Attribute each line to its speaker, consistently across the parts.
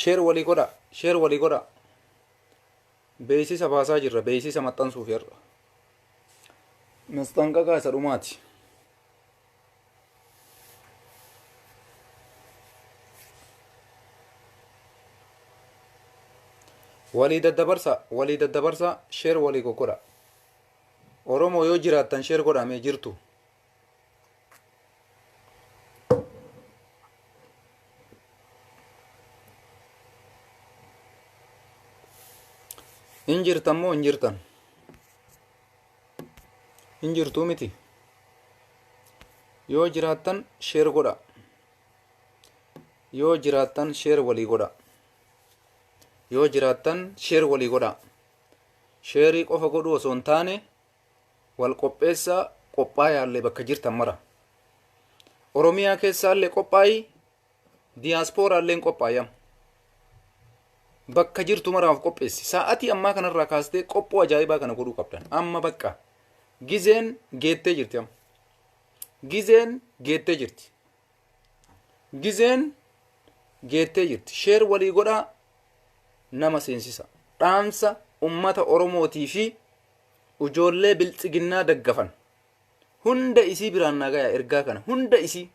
Speaker 1: Share walii godhaa, share walii godhaa. Beeksisa baasaa jirra, beeksisa maxxansuuf har'a. Masxanqaqaa isa dhumaati. Walii daddabarsaa, walii daddabarsaa, share walii goggodhaa. Oromoo yoo jiraattan share godhaa mee jirtu. hin jirtan moo hin jirtan hin jirtuu miti yoo jiraattan sheer godha yoo jiraattan sheer walii godha yoo jiraattan sheer walii godha sheerii qofa godhuu osoo hin taane Wal qopheessaa qophaayaallee bakka jirtan mara. Oromiyaa keessaallee qophaayi diyaasporaalleen qophaayi amma. Bakka jirtu maraaf qopheessi. Sa'atii ammaa kanarraa kaastee qophoo ajaa'ibaa kana godhuu qabdan. Amma bakka gizeen geettee jirti amma. Gizeen geettee jirti. Gizeen geettee jirti. Sheer walii godhaa nama seensisa. Dhaamsa ummata Oromootii fi ujoollee biltsiginnaa daggafan hunda isii biraan naa gayaa ergaa kana hunda isii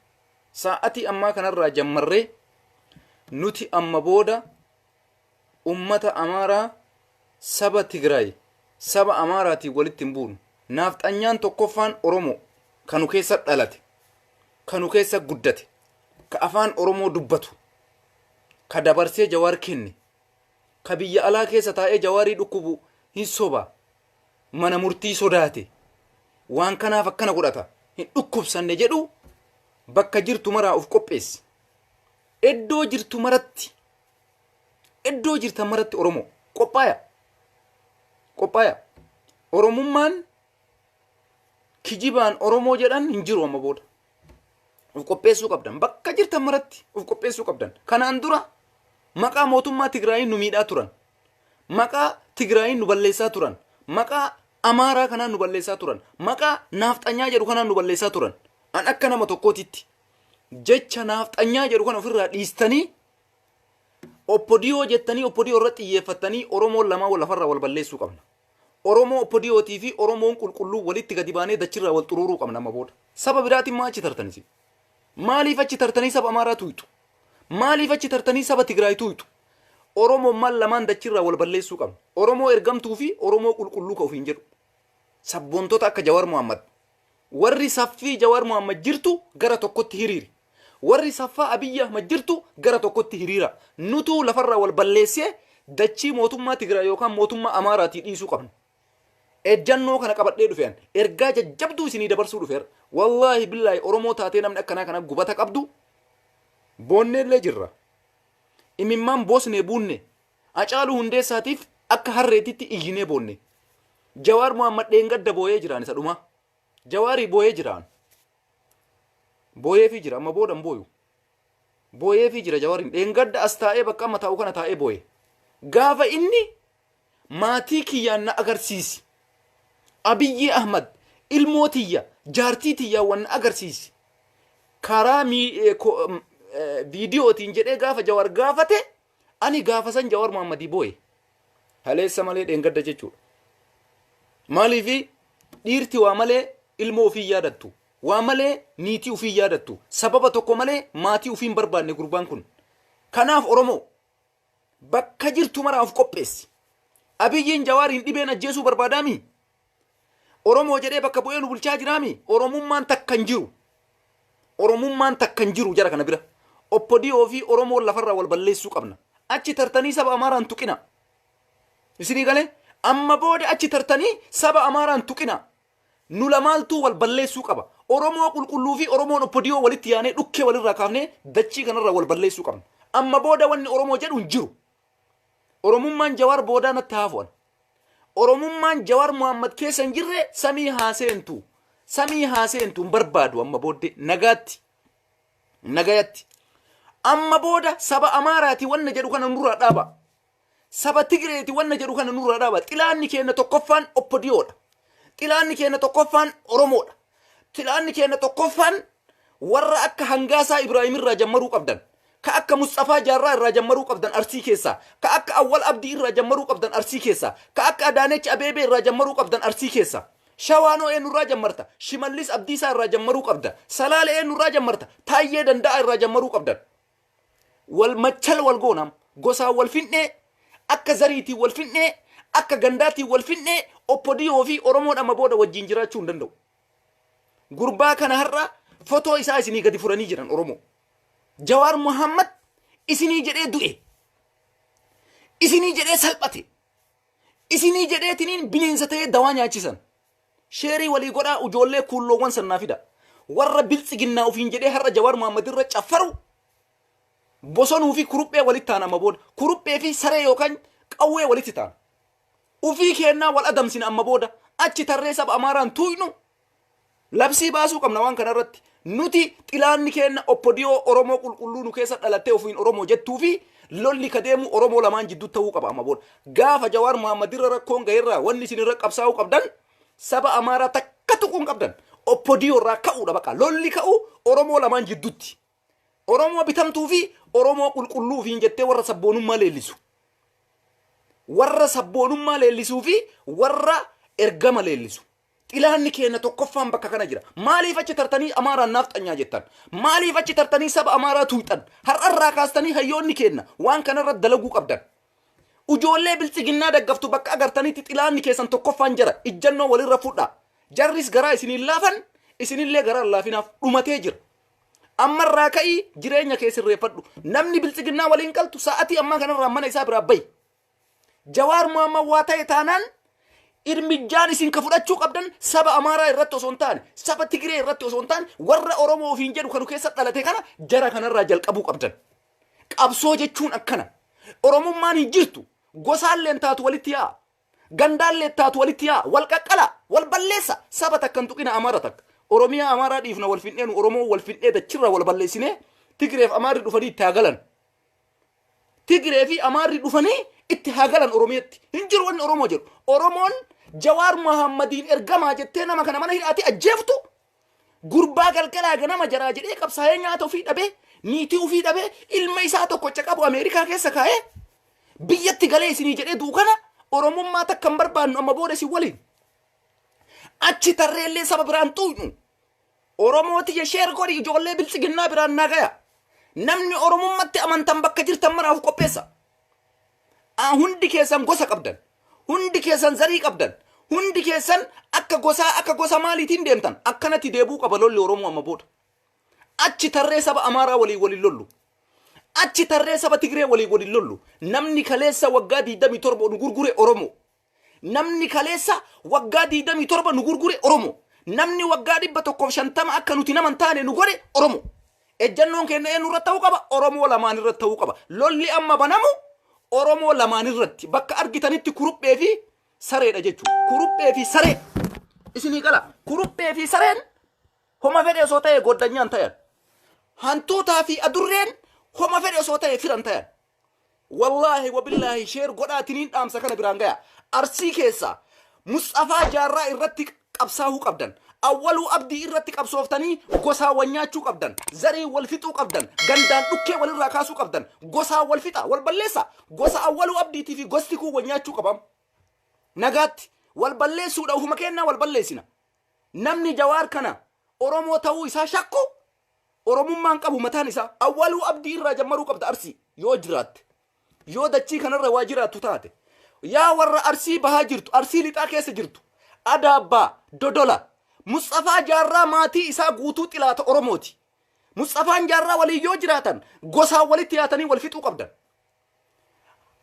Speaker 1: saa'atii ammaa kanarraa jammarree nuti amma booda ummata amaaraa saba tigraay saba amaaraatiin walitti hin buunu naafxanyaan tokkoffaan oromoo kanu keessa dhalate kanu keessa guddate ka afaan oromoo dubbatu ka dabarsee jawaar kenne Ka biyya alaa keessa taa'ee Jawaarii dhukkubu hin soba. Mana murtii sodaate. Waan kanaaf akkana godhata. Hin dhukkubsanne jedhu bakka jirtu maraa of qopheessi. Eddoo jirtu maratti eddoo jirtan maratti Oromoo qophaaya. Qophaaya. Oromummaan kijibaan Oromoo jedhan hin jiru amma booda. Uf qopheessuu qabdan. Bakka jirtan maratti uf qopheessuu qabdan. Kanaan dura maqaa mootummaa Tigraayiin nu miidhaa turan. Maqaa Tigraayiin nu balleessaa turan. Maqaa Amaaraa kanaan nu balleessaa turan. Maqaa naafxanyaa jedhu kanaan nu balleessaa turan. An akka nama tokkootitti jecha naafxanyaa jedhu kana ofirraa dhiistanii oppodiyoo jettanii oppodiyoo irratti xiyyeeffattanii Oromoon lamaan wal lafarraa wal balleessuu qabna. Oromoo Opdiotii fi Oromoon qulqulluu walitti gadi baanee dachirraa wal xuruuruu qabna amma booda. Saba biraatiin maa achi tartan isin? Maaliif achi tartanii saba Amaaraa tuuyxu? Maaliif achi tartanii saba Tigraay tuuyxu? Oromommaan lamaan dachirraa wal balleessuu qabna. Oromoo ergamtuu fi Oromoo qulqulluu ka ofiin jedhu. Sabboontota akka Jawar Mohammed Warri saffii Jawar Mohammed jirtu gara tokkotti hiriiri. Warri saffaa Abiy Ahmed jirtu gara tokkotti hiriira. Nutuu lafarraa wal balleessee dachii mootummaa Tigraay yookaan mootummaa Amaaraatii dhiisuu qabna. Ejjannoo kana qabadhee dhufe an. Ergaa jajjabduu isinii dabarsuu dhufe har'a. Wallaahi billaahi Oromoo taatee namni akkanaa kana gubata qabdu boonneellee jirra. Imimmaan boosnee buunne. Hacaaluu Hundeessaatiif akka harreetitti iyyinee boonne. Jawaar Mohammad dheengadda booyee jiraan isa dhumaa. Jawaari booyee jiraan. Booyeefii jira amma booda hin booyu. Booyeefii jira Jawaariin dheengadda as taa'ee bakka amma taa'u kana taa'ee booye. Gaafa inni maatii kiyyaan na agarsiisi. Abiyyii Ahmad ilmoo tiyya jaartii tiyyaan wan na agarsiisi. Karaa mii- eh, ko- em, eh, viidiyootiin jedhee gaafa Jawaar gaafate Ani gaafasan Jawar Mohammadii booye. Kaleessa malee dheengadda jechuudha. Maaliif dhiirti waa malee ilmoo ofii yaadattu. Waa malee niitii ofii yaadattu. Sababa tokko malee maatii ofii hin barbaanne gurbaan kun. Kanaaf Oromoo bakka jirtu maraa of qopheessi. Abiyyiin Jawaariin dhibeen ajjeesuu barbaadaami? Oromoo jedhee bakka bu'ee nu bulchaa jiraa mii? Oromummaan takka hin jiru. Oromummaan takka hin jiru jara kana bira. Oppodiyoo fi Oromoon lafarraa wal balleessuu qabna. Achi tartanii saba Amaaraa hin tuqina. Isinii galee amma booda achi tartanii saba Amaaraa hin tuqina. Nu lamaaltuu wal balleessuu qaba. Oromoo qulqulluu fi Oromoon Oppodiyoo walitti yaanee dhukkee walirraa kaafnee dachii kanarraa wal balleessuu qabna. Amma booda wanni Oromoo jedhu hin jiru. Oromummaan Jawaar boodaa natti haafu an. Oromummaan Jawaar Muhammad keessa hin jirre samii haa seentu. Samii haa seentu hin barbaadu amma booddee nagaatti. Nagayatti. Amma booda saba Amaaraati wanna jedhu kana nurraa dhaaba. Saba Tigireeti wanna jedhu kana nurraa dhaaba. Xilaanni keenya tokkoffaan oppodiyoodha. Xilaanni keenya tokkoffaan Oromoodha. Pilaanni keenna tokkoffaan warra akka Hangaasaa Ibraahim irraa jammaruu qabdan, ka akka Musxafaa Jaarraa irraa jammaruu qabdan Arsii keessaa, ka akka Awwal Abdii irraa jammaruu qabdan Arsii keessaa, ka akka Adaanech Abeebee irraa jammaruu qabdan Arsii keessaa. Shawaan hoo eennu irraa jammarta? Shimallis Abdiisaa irraa jammaruu qabda. Salaale eennu irraa jammarta? Taayyee Danda'aa irraa jammaruu qabdan. wal machal wal goonam gosaan wal findhee akka zariitiin wal findhee akka gandaatiin wal findhee oppodiyoo fi oromoon amma booda wajjin jiraachuu hin danda'u gurbaa kana har'a fotoo isaa isinii gadi furanii jiran oromoo jawaar muhammad isinii jedhee du'e isinii jedhee salphate isinii jedheetiniin bineensa ta'ee dawaa nyaachisan Sheerii walii godhaa ujoollee kuulloowwan san naa fidaa. Warra biltsiginnaa ofiin jedhee har'a Jawaar Mohammed irra caffaru bosonuu fi kuruphee walitti taana amma booda. Kuruphee fi saree yookaan qawwee walitti taana. Ufii keennaa wal adamsina amma booda. Achi tarree saba Amaaraan tuuynu labsii baasuu qabna waan kana irratti. Nuti xilaanni keenna Opdo Oromoo qulqulluu nu keessa dhalattee ofiin Oromoo jettuu fi lolli ka deemu Oromoo lamaan jidduutti ta'uu qaba amma booda. Gaafa Jawaar Mohammed irra rakkoon gahe irraa wanni isin irra qabsaa'uu qabdan saba Amaaraa takka tuquu hin qabdan. Opdo irraa ka'uu dha baqa. Lolli ka'u Oromoo lamaan jidduutti. Oromoo bitamtuu fi Oromoo qulqulluu ofiin jettee warra sabboonummaa leellisu. Warra sabboonummaa leellisuu fi warra ergama leellisu. Xilaanni keenna tokkoffaan bakka kana jira. Maaliif achi tartanii Amaaraan naafxanyaa jettan? Maaliif achi tartanii saba Amaaraa tuuyxan? Har'a irraa kaastanii hayyoonni keenna waan kana irra dalaguu qabdan. Ujoollee biltsiginnaa daggaftu bakka agartanitti xilaanni keessan tokkoffaan jara. Ijjannoo walirra fudha. Jarris garaa isin hin laafan, isinillee garaa hin laafinaaf. Dhumatee jira. Amma irraa ka'ii jireenya kee sirreeffadhu. Namni biltsiginnaa waliin galtu sa'atii ammaa kanarraa mana isaa biraa bahi. Jawaar Mohammad waa ta'e taanaan irmijjaan isin ka fudhachuu qabdan saba Amaaraa irratti osoo hin taane, saba Tigiree irratti osoo hin taane, warra Oromoo ofiin jedhu kanu keessa dhalate kana jara kanarraa jalqabuu qabdan. Qabsoo jechuun akkana. Oromummaan hin jirtu. Gosaalleen taatu walitti yaa'a. Gandaallee taatu walitti yaa'a. Wal qaqqala, wal balleessa. Saba takka hin tuqina Amaara takka. Oromiyaa Amaaraa dhiifna wal findheenu Oromoo wal findhee dachirra wal balleessinee Tigireef Amaarri dhufanii itti haa galan. Tigree fi Amaarri dhufanii itti haa galan Oromiyatti. Hin jiru wanni Oromoo jedhu. Oromoon Jawaar Mahaammadiin ergamaa jettee nama kana mana hidhaatti ajjeeftu gurbaa galgalaa ganama jaraa jedhee qabsaa'ee nyaata ofii dhabee niitii ofii dhabee ilma isaa tokko caqabu Ameerikaa keessa kaa'ee biyyatti galee isinii jedhee du'u kana Oromummaa takka hin barbaannu amma booda isin waliin. Achi tarreellee saba biraan xuuxnu. Oromoo tiyya sheer godhi ijoollee biltsiginnaa biraan naa gaya. Namni Oromummatti amantan bakka jirtan maraaf qopheessa. Aa, Hundi keessan gosa qabdan. Hundi keessan zarii qabdan. Hundi keessan akka gosaa akka gosa maaliitiin deemtan akkanatti deebuu qaba lolli Oromoo amma booda. Achi tarree saba Amaaraa waliin waliin lollu. Achi tarree saba Tigree waliin waliin lollu. Namni kaleessa waggaa 27 nu gurgure Oromoo. Namni kaleessa waggaa 27 nu gurgure Oromo. Namni waggaa 150 akka nuti nama hin taane nu godhe Oromo. Ejjannoon keenya eenyu irratti ta'uu qaba? Oromoo lamaan irratti ta'uu qaba. Lolli amma banamu Oromoo lamaan irratti bakka argitanitti kuruphee fi sareedha jechuudha. Kuruphee fi saree isinii gala. Kuruphee fi sareen homa fedhe osoo ta'e goddanyaan ta'an. Hantuutaa fi adurreen homa fedhe osoo ta'e firan ta'an. Wallaahi wabillaahi share godhaa tiniin dhaamsa kana biraan gayaa. Arsii keessaa Musxafaa Jaarraa irratti qabsaahuu qabdan. Awwaluu Abdii irratti qabsooftanii gosaan wal nyaachuu qabdan. Zariin wal fixuu qabdan. Gandaan dhukkee wal irraa kaasuu qabdan. Gosaan wal fixaa, wal balleessaa. Gosa Awwaluu Abdiitii fi gosti kun wal nyaachuu qaba amma. Nagaatti. Wal balleessuudha ofuma keennaa wal balleessina. Namni Jawaar kana Oromoo ta'uu isaa shakku Oromummaan qabu mataan isaa Awwaluu Abdii irraa jammaruu qabda Arsii yoo jiraatte. Yoo dachii kanarra waa jiraattu taate. Yaa warra Arsii bahaa jirtu, Arsii lixaa keessa jirtu. Adaabbaa, Dodola. Musxafaa Jaarraa maatii isaa guutuu xilaata Oromooti. Musxafaan Jaarraa waliin yoo jiraatan gosaan walitti yaatanii wal fixuu qabdan.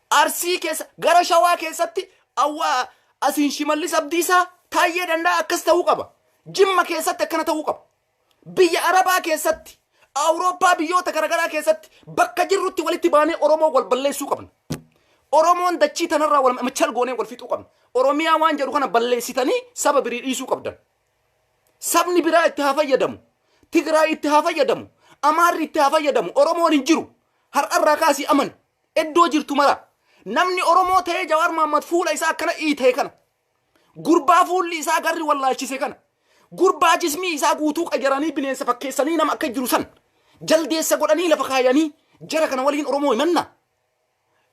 Speaker 1: Arsii keessa gara Shawaa keessatti awwa asiin Shimallis Abdiisaa Taayyee Dandaa akkas ta'uu qaba. Jimma keessatti akkana ta'uu qaba. Biyya Arabaa keessatti, Awurooppaa biyyoota garagaraa keessatti bakka jirrutti walitti baanee Oromoo wal balleessuu qabna. Oromoon dachii tanarraa wal machal goonee wal fixuu qabna. Oromiyaa waan jedhu kana balleessitanii saba birii dhiisuu qabdan. Sabni biraa itti haa fayyadamu. Tigraay itti haa fayyadamu. Amaarri itti haa fayyadamu. Oromoon hin jiru. Har'arraa kaasii amani. Iddoo jirtu mara. Namni Oromoo ta'ee Jawaar Mahammad fuula isaa akkana iitee kana. Gurbaa fuulli isaa garri wallaalchise kana. Gurbaa jismii isaa guutuu qajaranii bineensa fakkeessanii nama akka jiru san. Jaldeessa godhanii lafa kaayanii jara kana waliin Oromoo himanna.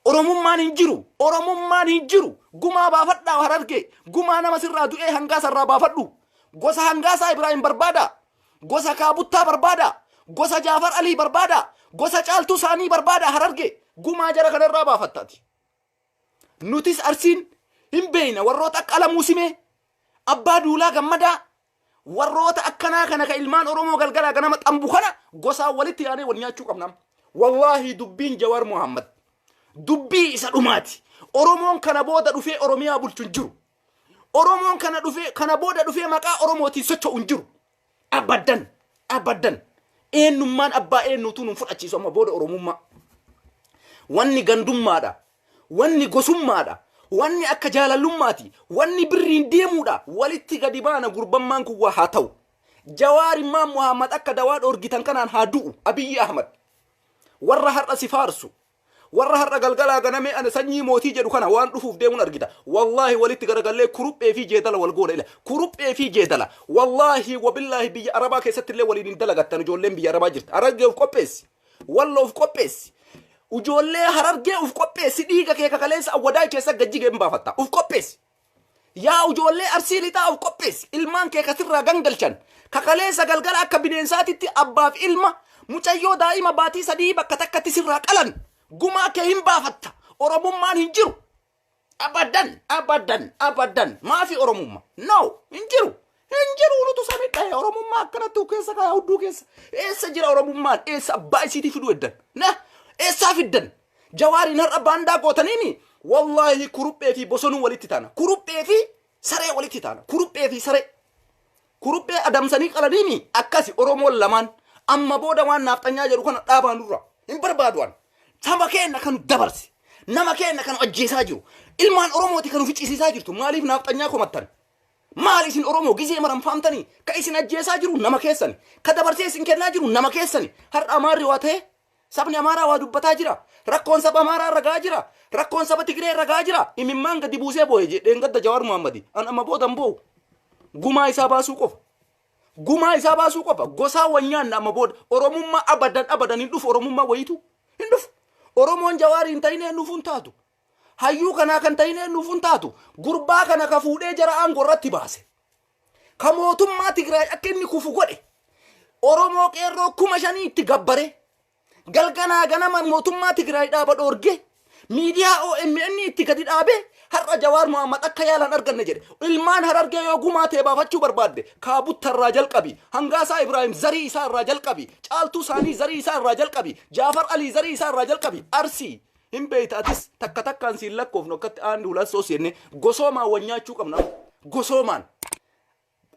Speaker 1: Oromummaan hin jiru. Oromummaan hin jiru. Gumaa baafadhaa harargee. Gumaa nama sirraa du'ee hangaa sarraa baafadhu. Gosa hangaasaa Ibraahim barbaada. Gosa kaabuttaa barbaada. Gosa Jaafar Alii barbaada. Gosa caaltuu saanii barbaada harargee. Gumaa jara kanarraa baafattaati. Nutis Arsiin hin beeyna warroota akka Alamuu Simee, Abbaa Duulaa Gammadaa, warroota akkanaa kana ka ilmaan Oromoo galgalaa ganama xambu kana gosaan walitti yaanee wal nyaachuu qabna amma. Wallaahi dubbiin Jawaar Mohaammad dubbii isa dhumaati. Oromoon kana booda dhufee Oromiyaa bulchu hin jiru. Oromoon kana dhufee kana booda dhufee maqaa Oromootiin socho'u hin jiru. Abaddan abaddan eenyummaan abbaa eenyuutuu nun fudhachiisu amma booda oromummaa. Wanni gandummaadha. Wanni gosummaadha. Wanni akka jaalallummaati. Wanni birriin deemuudha. Walitti gadi baana gurbammaan kun waa haa ta'u. Jawaar immaan Muhammad akka dawaa dhoorgitan kanaan haa du'u. Abiyyi Ahmad. Warra har'a si faarsu. Warra har'a galgalaa ganamee ana sanyii mootii jedhu kana waan dhufuuf deemun argita. Wallaahi walitti garagallee kuruphee fi jeedala wal goona ila. Kuruphee fi jeedala. Wallaahi wabillaahi biyya Arabaa keessatti illee waliin hin dalagattan ijoolleen biyya Arabaa jirta. Harargee of qopheessi. Wallo of qopheessi. Ijoollee Harargee of qopheessi dhiiga kee ka kaleessa Awwadaay keessa gad jige hin baafatta. Of qopheessi. Yaa ujoollee Arsii Lixaa of qopheessi. Ilmaan kee ka sirraa gangalchan. Ka kaleessa galgala akka bineensaatitti abbaaf ilma, mucayyoo daa'ima baatii sadihii bakka takkatti sirraa qalan. Gumaa kee hin baafatta. Oromummaan hin jiru. Abadan, abadan, abadan. Maafi Oromumma? No, hin jiru. Hin jiru nutu samidha oromummaa akkanatti keessa kaya hudduu keessa. Eessa jira oromummaan eessa abbaa isiitii fiduu eddan. Na eessaa fiddan. Jawaariin har'a baandaa gootaniimi. Wallaahi kuruphee fi bosonuu walitti taana. Kuruphee fi saree walitti taana. Kuruphee fi saree. Kuruphee adamsanii qalaniimi akkasi oromoon lamaan. Amma booda waan naafxanyaa jedhu kana dhaabaa nurra. Hin barbaadu'an. Saba keenya kan dabarse. Nama keenya kan ajjeesaa jiru. Ilmaan oromooti kan ofi cisiisaa jirtu. Maaliif naafxanyaa komattan? Maali isin Oromoo gizee maran faamtanii ka isin ajjeesaa jiru nama keessani. Ka dabarsee isin kennaa jiru nama keessani. Har'a Amaarri waa ta'ee sabni Amaaraa waa dubbataa jira. Rakkoon saba Amaaraa irra ga'aa jira. Rakkoon saba Tigiree irra ga'aa jira. Imimmaan gadi buusee boo'e je- dheengadda Jawaar Muhammadi. An amma booda hin boo'u. Gumaa isaa baasuu qofa. Gumaa isaa baasuu qofa. Gosaa wal nyaanna amma booda. Oromummaa abadan abadan hin dhufu Oromummaa wayiitu. Hin dhufu. Oromoon Jawaar hin ta'in eenyuufuu hin taatu. Hayyuu kanaa kan tahin eennuuf hin taatu. Gurbaa kana ka fuudhee jara aangoo irratti baase. Ka mootummaa Tigraay akka inni kufu godhe. Oromoo qeerroo kuma shanii itti gabbare. Galganaa ganama mootummaa Tigraay dhaaba dhoorge. Miidiyaa OMN itti gadi dhaabe. Har'a Jawaar Mohaammed akka yaalan arganne jedhe. Ilmaan harargee yoo gumaa ta'e baafachuu barbaadde kaabutta irraa jalqabi. Hangaasaa Ibraahim zarii isaa irraa jalqabi. Caaltuu isaanii zarii isaa irraa jalqabi. Jaafar Alii zarii isaa irraa jalqabi. Arsii. Hin beeyta atis takka takkaan siin lakkoofnu akkatti aanni hulaan soos jennee gosoomaan wal nyaachuu qabna amma. Gosoomaan.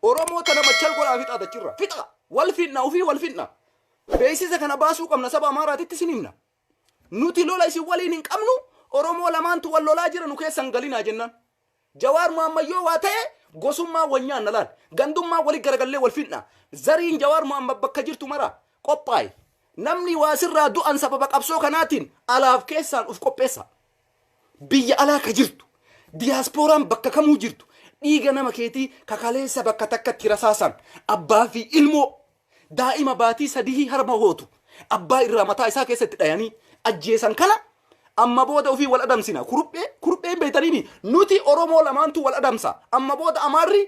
Speaker 1: Oromoo tana machal godhaa fixaa tachirra. Fixaa! Wal fixna ofii wal fixna. Beeksisa kana baasuu qabna saba Amaaraatitti isin himna. Nuti lola isin waliin hin qabnu Oromoo lamaantu wal lolaa jira nu keessa hin galinaa jennaan. Jawaar Mohammed yoo waa ta'e gosummaan wal nyaanna laal. Gandummaan wali garagallee wal fixna. Zariin Jawaar Mohammed bakka jirtu mara qophaa'i. Namni waa sirraa du'an sababa qabsoo kanaatiin alaaf keessaan uf qopheessaa. Biyya alaa ka jirtu, diyaaspooraan bakka kamuu jirtu dhiiga nama keetii ka kaleessa bakka takkatti rasaasaan abbaa fi ilmoo Daa'ima baatii sadihii harma hootu abbaa irraa mataa isaa keessa itti dhayanii ajjeesan kana amma booda ofii wal adamsina kurphee kurphee hin beeytaniimi nuti Oromoo lamaantu wal adamsa amma booda Amaarri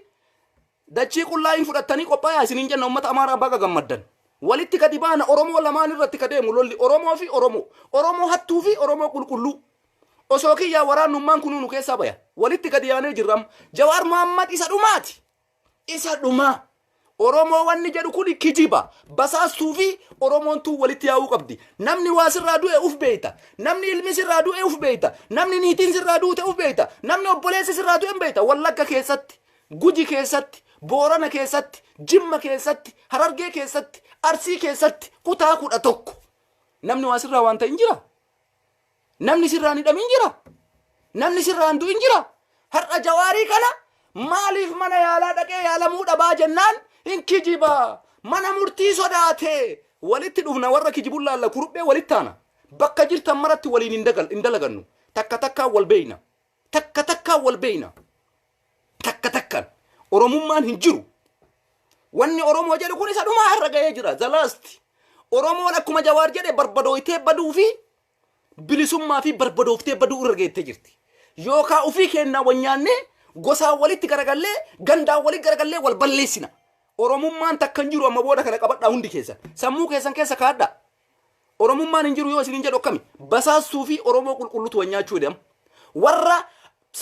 Speaker 1: dachii qullaa hin fudhattanii qophaayaa isiniin jenna ummata Amaaraa baga gammaddan. Walitti gadi baana Oromoo lamaan irratti ka deemu lolli Oromoo fi Oromoo Oromoo hattuu fi Oromoo qulqulluu osoo kiyyaa waraannummaan kunuu nu keessaa baya walitti gadi yaanee jirra amma Jawaar Mohammad isa dhumaati Isa dhumaa. Oromoo wanni jedhu kun kijiba. Basaastuu fi Oromoon tun walitti yaa'uu qabdi. Namni waa sirraa du'e uf beeyta. Namni ilmi sirraa du'e uf beeyta. Namni niitiin sirraa duute uf beeyta. Namni obboleessi sirraa du'e hin beeyta. Wallagga keessatti, Guji keessatti, Boorana keessatti, Jimma keessatti, Harargee keessatti, Arsii keessatti kutaa kudha tokko. Namni waa sirraa waan ta'e hin jira. Namni sirraan hidhamin jira. Namni sirraan du'in jira. Har'a jawaarii kana maaliif mana yaalaa dhaqee yaalamuu dhabaa jennaan hin kijiba. Mana murtii sodaatee walitti dhufna warra kijibun laalla kuruphee walitti taana. Bakka jirtan maratti waliin hin dagal- hin dalagannu. Takka takkaan wal beeyna. Takka takkaan wal beeyna. Takka takkan Oromummaan hin jiru. Wanni Oromoo jedhu kun isa dhumaa irra ga'ee jira. The last. Oromoon akkuma Jawaar jedhe barbadooytee baduu fi bilisummaa fi barbadooftee baduu irra geettee jirti. Yookaa ofii keennaa wal nyaannee gosaan walitti garagallee gandaan walitti garagallee wal balleessina. Oromummaan takka hin jiru amma booda kana qabadhaa hundi keessan. Sammuu keessan keessa kaadhaa. Oromummaan hin jiru yoo isiniin jedhu akkami? Basaassuu fi Oromoo qulqullutu wal nyaachuu hidhe amma. Warra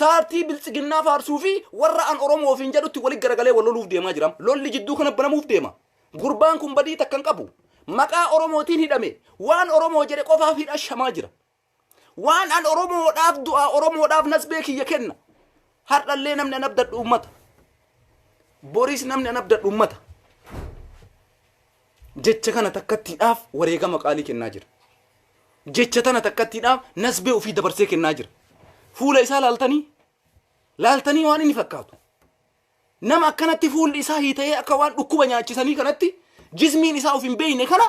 Speaker 1: saartii biltsiginnaa faarsuu fi warra an Oromoo ofiin jedhutti walitti garagalee wal loluuf deemaa jira. Lolli jidduu kana banamuuf deema. Gurbaan kun badii takka hin qabu. Maqaa Oromootiin hidhame. Waan Oromoo jedhe qofaaf hidha shamaa jira. Waan an Oromoodhaaf du'aa Oromoodhaaf nasbee kiyya kenna. Har'allee namni an abdadhu ummata. Boriis namni an abdadhu ummata. Jecha kana takkattiidhaaf wareegama qaalii kennaa jira. Jecha tana takkattiidhaaf nasbee ofii dabarsee kennaa jira. Fuula isaa laaltanii laaltanii waan inni fakkaatu. Nama akkanatti fuulli isaa hiita'ee akka waan dhukkuba nyaachisanii kanatti jismiin isaa of hin beekne kana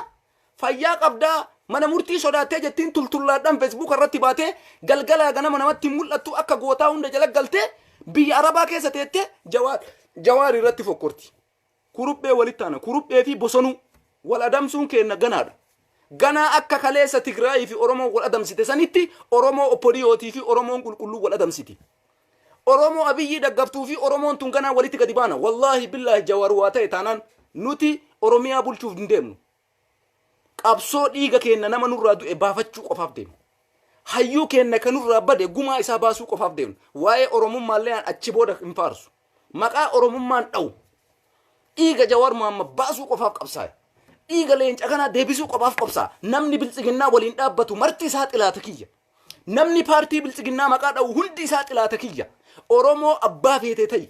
Speaker 1: fayyaa qabdaa mana murtii sodaattee jettiin tultullaadhaan feesbuuka irratti baatee galgalaa ganama namatti hin mul'attu akka gootaa hunda jala galtee biyya arabaa keessa teettee jawaar jawaar irratti fokkorti. Kuruphee walitti aana kuruphee fi bosonuu wal adamsuun keenna ganaadha. Ganaa akka kaleessa Tigraayii fi Oromoo wal adamsite sanitti Oromoo Opodiyootii fi Oromoon qulqulluu wal adamsiti. Oromoo Abiyyii daggaftuu fi Oromoon tun ganaa walitti gadi baana. Wallaahi billaahi Jawaar waa ta'e taanaan nuti Oromiyaa bulchuuf hin deemnu. Qabsoo dhiiga keenna nama nurraa du'e baafachuu qofaaf deemna. Hayyuu keenna kan nurraa bade gumaa isaa baasuu qofaaf deemna. Waa'ee Oromummaallee aan achi booda hin faarsu. Maqaa Oromummaan dha'u. Dhiiga Jawaar Muhammad baasuu qofaaf qabsaa'e. Dhiiga leenca kanaa deebisuu qofaaf qabsaa. Namni biltsiginnaa waliin dhaabbatu marti isaa xilaata kiyya. Namni paartii bilxiginnaa maqaa dha'u hundi isaa xilaata kiyya. Oromoo abbaa feetee ta'i.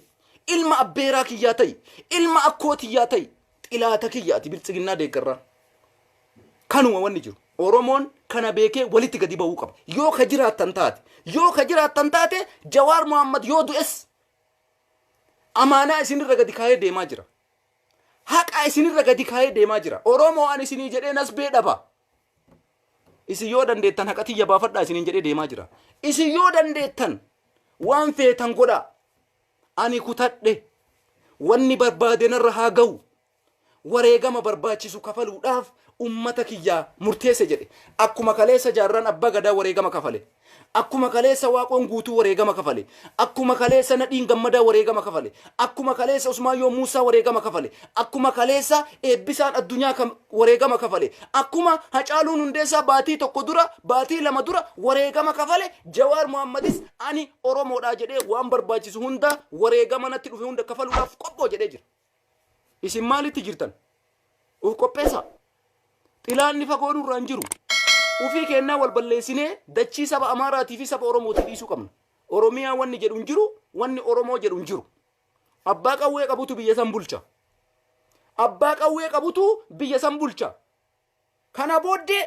Speaker 1: Ilma abbeeraa kiyyaa ta'i. Ilma akkoo tiyyaa ta'i. Xilaata kiyya ati bilxiginnaa deeggarraa. Kanuma wanni jiru. Oromoon kana beekee walitti gadi ba'uu qaba. Yoo ka jiraattan taate. Yoo ka jiraattan taate Jawaar Mohaammed yoo du'es amaanaa isinirra gadi kaayee deemaa jira. Haqaa isinirra gadi kaayee deemaa jira. Oromoo ani isinii jedhee nasbee dhaba. Isin yoo dandeettan haqa tiyya baafadhaa isiniin jedhee deemaa jira. Isin yoo dandeettan waan feetan godhaa. Ani kutadhe wanni barbaade narra haa gahu. Wareegama barbaachisu kafaluudhaaf ummata kiyyaa murteesse jedhe. Akkuma kaleessa jaarraan abbaa gadaa wareegama kafale. Akkuma kaleessa Waaqoon Guutuu wareegama kafale, akkuma kaleessa Nadhiin Gammadaa wareegama kafale, akkuma kaleessa Usmaayyoon Muussaa wareegama kafale, akkuma kaleessa Eebbisaan Addunyaa ka wareegama kafale, akkuma Hacaaluun Hundeessaa baatii tokko dura, baatii lama dura wareegama kafale, Jawaar Mohaammadis ani Oromoodhaa jedhee waan barbaachisu hunda wareegama natti dhufe hunda kafaluudhaaf qophoo jedhee jira. Isin maalitti jirtan? Uf qopheessaa. Xilaanni fagoo nurraa hin jiru. Ufii keennaa wal balleessinee dachii saba Amaaraatii fi saba Oromootii dhiisuu qabna. Oromiyaa wanni jedhu hin jiru, wanni Oromoo jedhu hin jiru. Abbaa qawwee qabutu biyya san bulcha. Abbaa qawwee qabutu biyya san bulcha. Kana booddee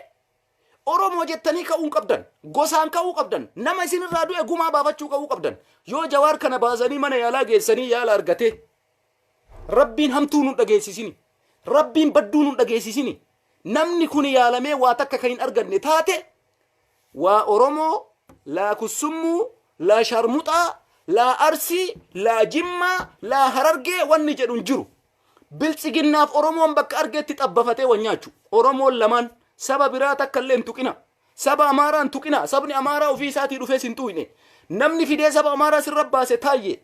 Speaker 1: Oromoo jettanii ka'uu hin qabdan. Gosaan ka'uu qabdan. Nama isin irraa du'e gumaa baafachuu ka'uu qabdan. Yoo Jawaar kana baasanii mana yaalaa geessanii yaala argatee Rabbiin hamtuu nun dhageessisini. Rabbiin badduu nun dhageessisini. Namni kun yaalamee waa takka kan hin arganne taate waa Oromoo laa kussummuu laa sharmuxaa laa arsii laa jimmaa laa harargee wanni jedhu hin jiru. Biltsiginnaaf Oromoon bakka argeetti xabbafatee wal nyaachu. Oromoon lamaan saba biraa takka illee hin tuqina. Saba Amaaraa hin tuqina. Sabni Amaaraa ofii isaatii dhufee sin tuuyne. Namni fidee saba Amaaraa sirra baase Taayyee.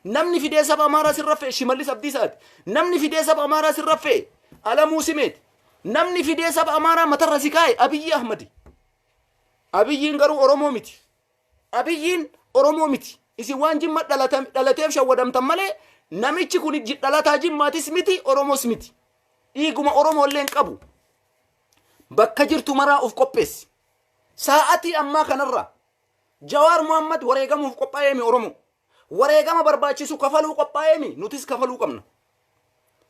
Speaker 1: Namni fidee saba Amaaraa sirra fe'e Shimallis Abdiisaati. Namni fidee saba Amaaraa sirra fe'e Alamuu Simeeti. Namni fidee saba Amaaraa matarra si kaa'e Abiyyi Ahmadi. Abiyyiin garuu Oromoo miti. Abiyyiin Oromoo miti. Isin waan Jimma dhalatan, dhalateef shawwadamtan malee namichi kun ji- dhalataa Jimmaatis miti, Oromoos miti. Dhiiguma Oromoo illee hin qabu. Bakka jirtu maraa of qopheessi. Saa'atii ammaa kanarraa Jawaar Mohaammed wareegamuuf qophaa'eemi Oromoo. Wareegama barbaachisu kafaluu qophaa'eemi nutis kafaluu qabna.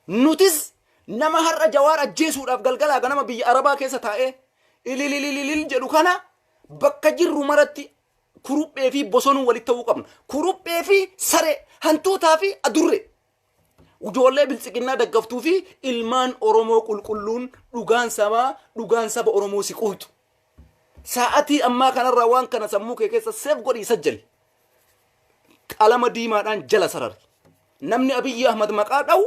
Speaker 1: Nutis nama har'a Jawaar ajjeesuudhaaf galgalaa ganama biyya Arabaa keessa taa'ee ilililililil jedhu kana bakka jirru maratti kuruphee fi bosonuu walitti ta'uu qabna. Kuruphee fi saree, hantuutaa fi adurree. Ujoollee biltsiginnaa daggaftuu fi ilmaan Oromoo qulqulluun dhugaan sabaa dhugaan saba Oromoo si quutu. Sa'atii ammaa kanarraa waan kana sammuu kee keessa seef godhii sajjali. Qalama diimaadhaan jala sarari. Namni Abiyyi Ahmad maqaa dha'u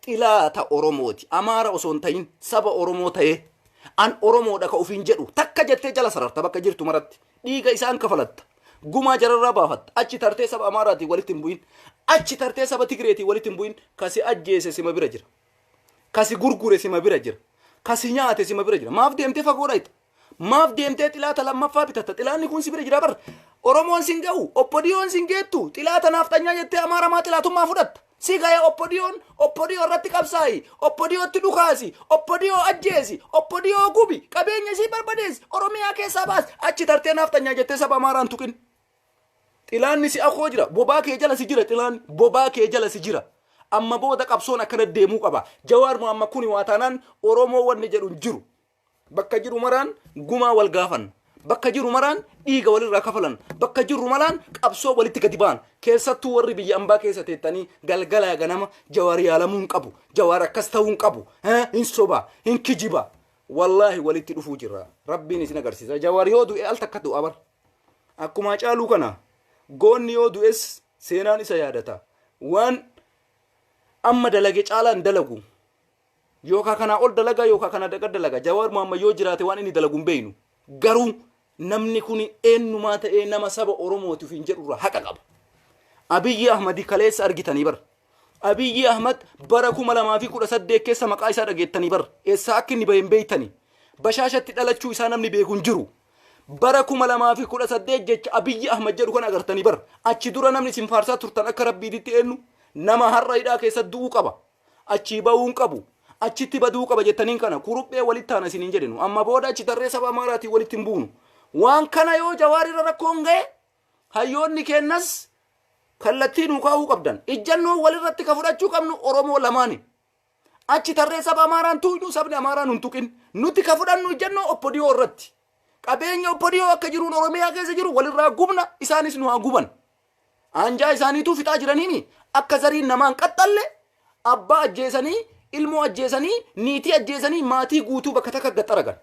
Speaker 1: xilaata Oromooti. Amaara osoo hin ta'in saba Oromoo ta'ee an Oromoodha ka ofiin jedhu takka jettee jala sararta bakka jirtu maratti. Dhiiga isaan kafalatta. Gumaa jararraa baafatta. Achi tartee saba Amaaraatiin walitti hin bu'in. Achi tartee saba Tigreetiin walitti hin bu'in. Kasi ajjeese sima bira jira. Kasi gurgure sima bira jira. Kasi nyaate sima bira jira. Maaf deemtee fagoo dhayxa? Maaf deemtee xilaata lammaffaa bitatta? Xilaanni kun si bira jira bar. Oromoon sin ga'u, obbodiyoon sin geettu, xilaata naafxanyaa jettee Amaara maa xilaatummaa fudhatta? Si gaya oppodiyoon oppodiyoo irratti qabsaa'i. Oppodiyootti dhukaasi. Oppodiyoo ajjeesi. Oppodiyoo gubi. Qabeenya isii barbadeessi. Oromiyaa keessaa baasi. Achi tartee naaf tanyaa jettee saba Amaaraan tuqin. Xilaanni si akoo jira. Bobaa kee jala si jira xilaanni. Bobaa kee jala si jira. Amma booda qabsoon akkana deemuu qaba. Jawaar Mohaammed kuni waa taanaan Oromoo wanni jedhu hin jiru. Bakka jiru maraan gumaa wal gaafan. Bakka jiru maraan dhiiga walirraa kafalan. Bakka jirru malaan qabsoo walitti gadi ba'an. Keessattuu warri biyya ambaa keessa teettanii galgalaa ganama jawaar yaalamuu hin qabu. Jawaar akkas ta'uu hin qabu. Eh, Hin soba, hin kijiba. Wallaahi walitti dhufuu jirra. Rabbiin isin agarsiisa. Jawaar yoo du'e al takka du'a bar. Akkuma caaluu kana goonni yoo du'es seenaan isa yaadata. Waan amma dalage caalaan dalagu. Yookaa kanaa ol dalagaa yookaa kanaa daqa dalagaa Jawaar Mohammed yoo jiraate waan inni dalagu hin beeknu. Garuu namni kuni eennumaa ta'ee nama saba Oromooti ofiin jedhurraa haqa qaba. Abiyyi Ahmadi kaleessa argitanii bar. Abiyyi Ahmad bara 2018 keessa maqaa isaa dhageettanii bar. Eessaa akka inni bahe hin beektanii. Bashaashatti dhalachuu isaa namni beeku hin jiru. Bara 2018 jecha Abiyyi Ahmad jedhu kan agartanii bar. Achi dura namni isin faarsaa turtan akka rabbiititti eennu nama har'a hidhaa keessa du'uu qaba. achii ba'uu hin qabu achitti baduu qaba jettaniin kana kuruphee walitti taana isiniin jedhinu amma booda achi tarree saba amaaraatiin walitti hin buunu waan kana yoo jawaarirra rakkoon ga'e hayyoonni keennas kallattii nuu kaa'uu qabdan ijjannoo walirratti ka fudhachuu qabnu oromoo lamaani achi tarree saba amaaraan tuuynu sabni amaaraan hin tuqin nuti ka fudhannu ijjannoo oppodiyoo irratti qabeenya oppodiyoo akka jiruun oromiyaa keessa jiru walirraa gubna isaanis nu haa guban Aanjaa isaaniituu fixaa jiraniimi akka zariin namaa hin qaxxalle abbaa ajjeesanii ilmoo ajjeesanii niitii ajjeesanii maatii guutuu bakka takka gad xaragan.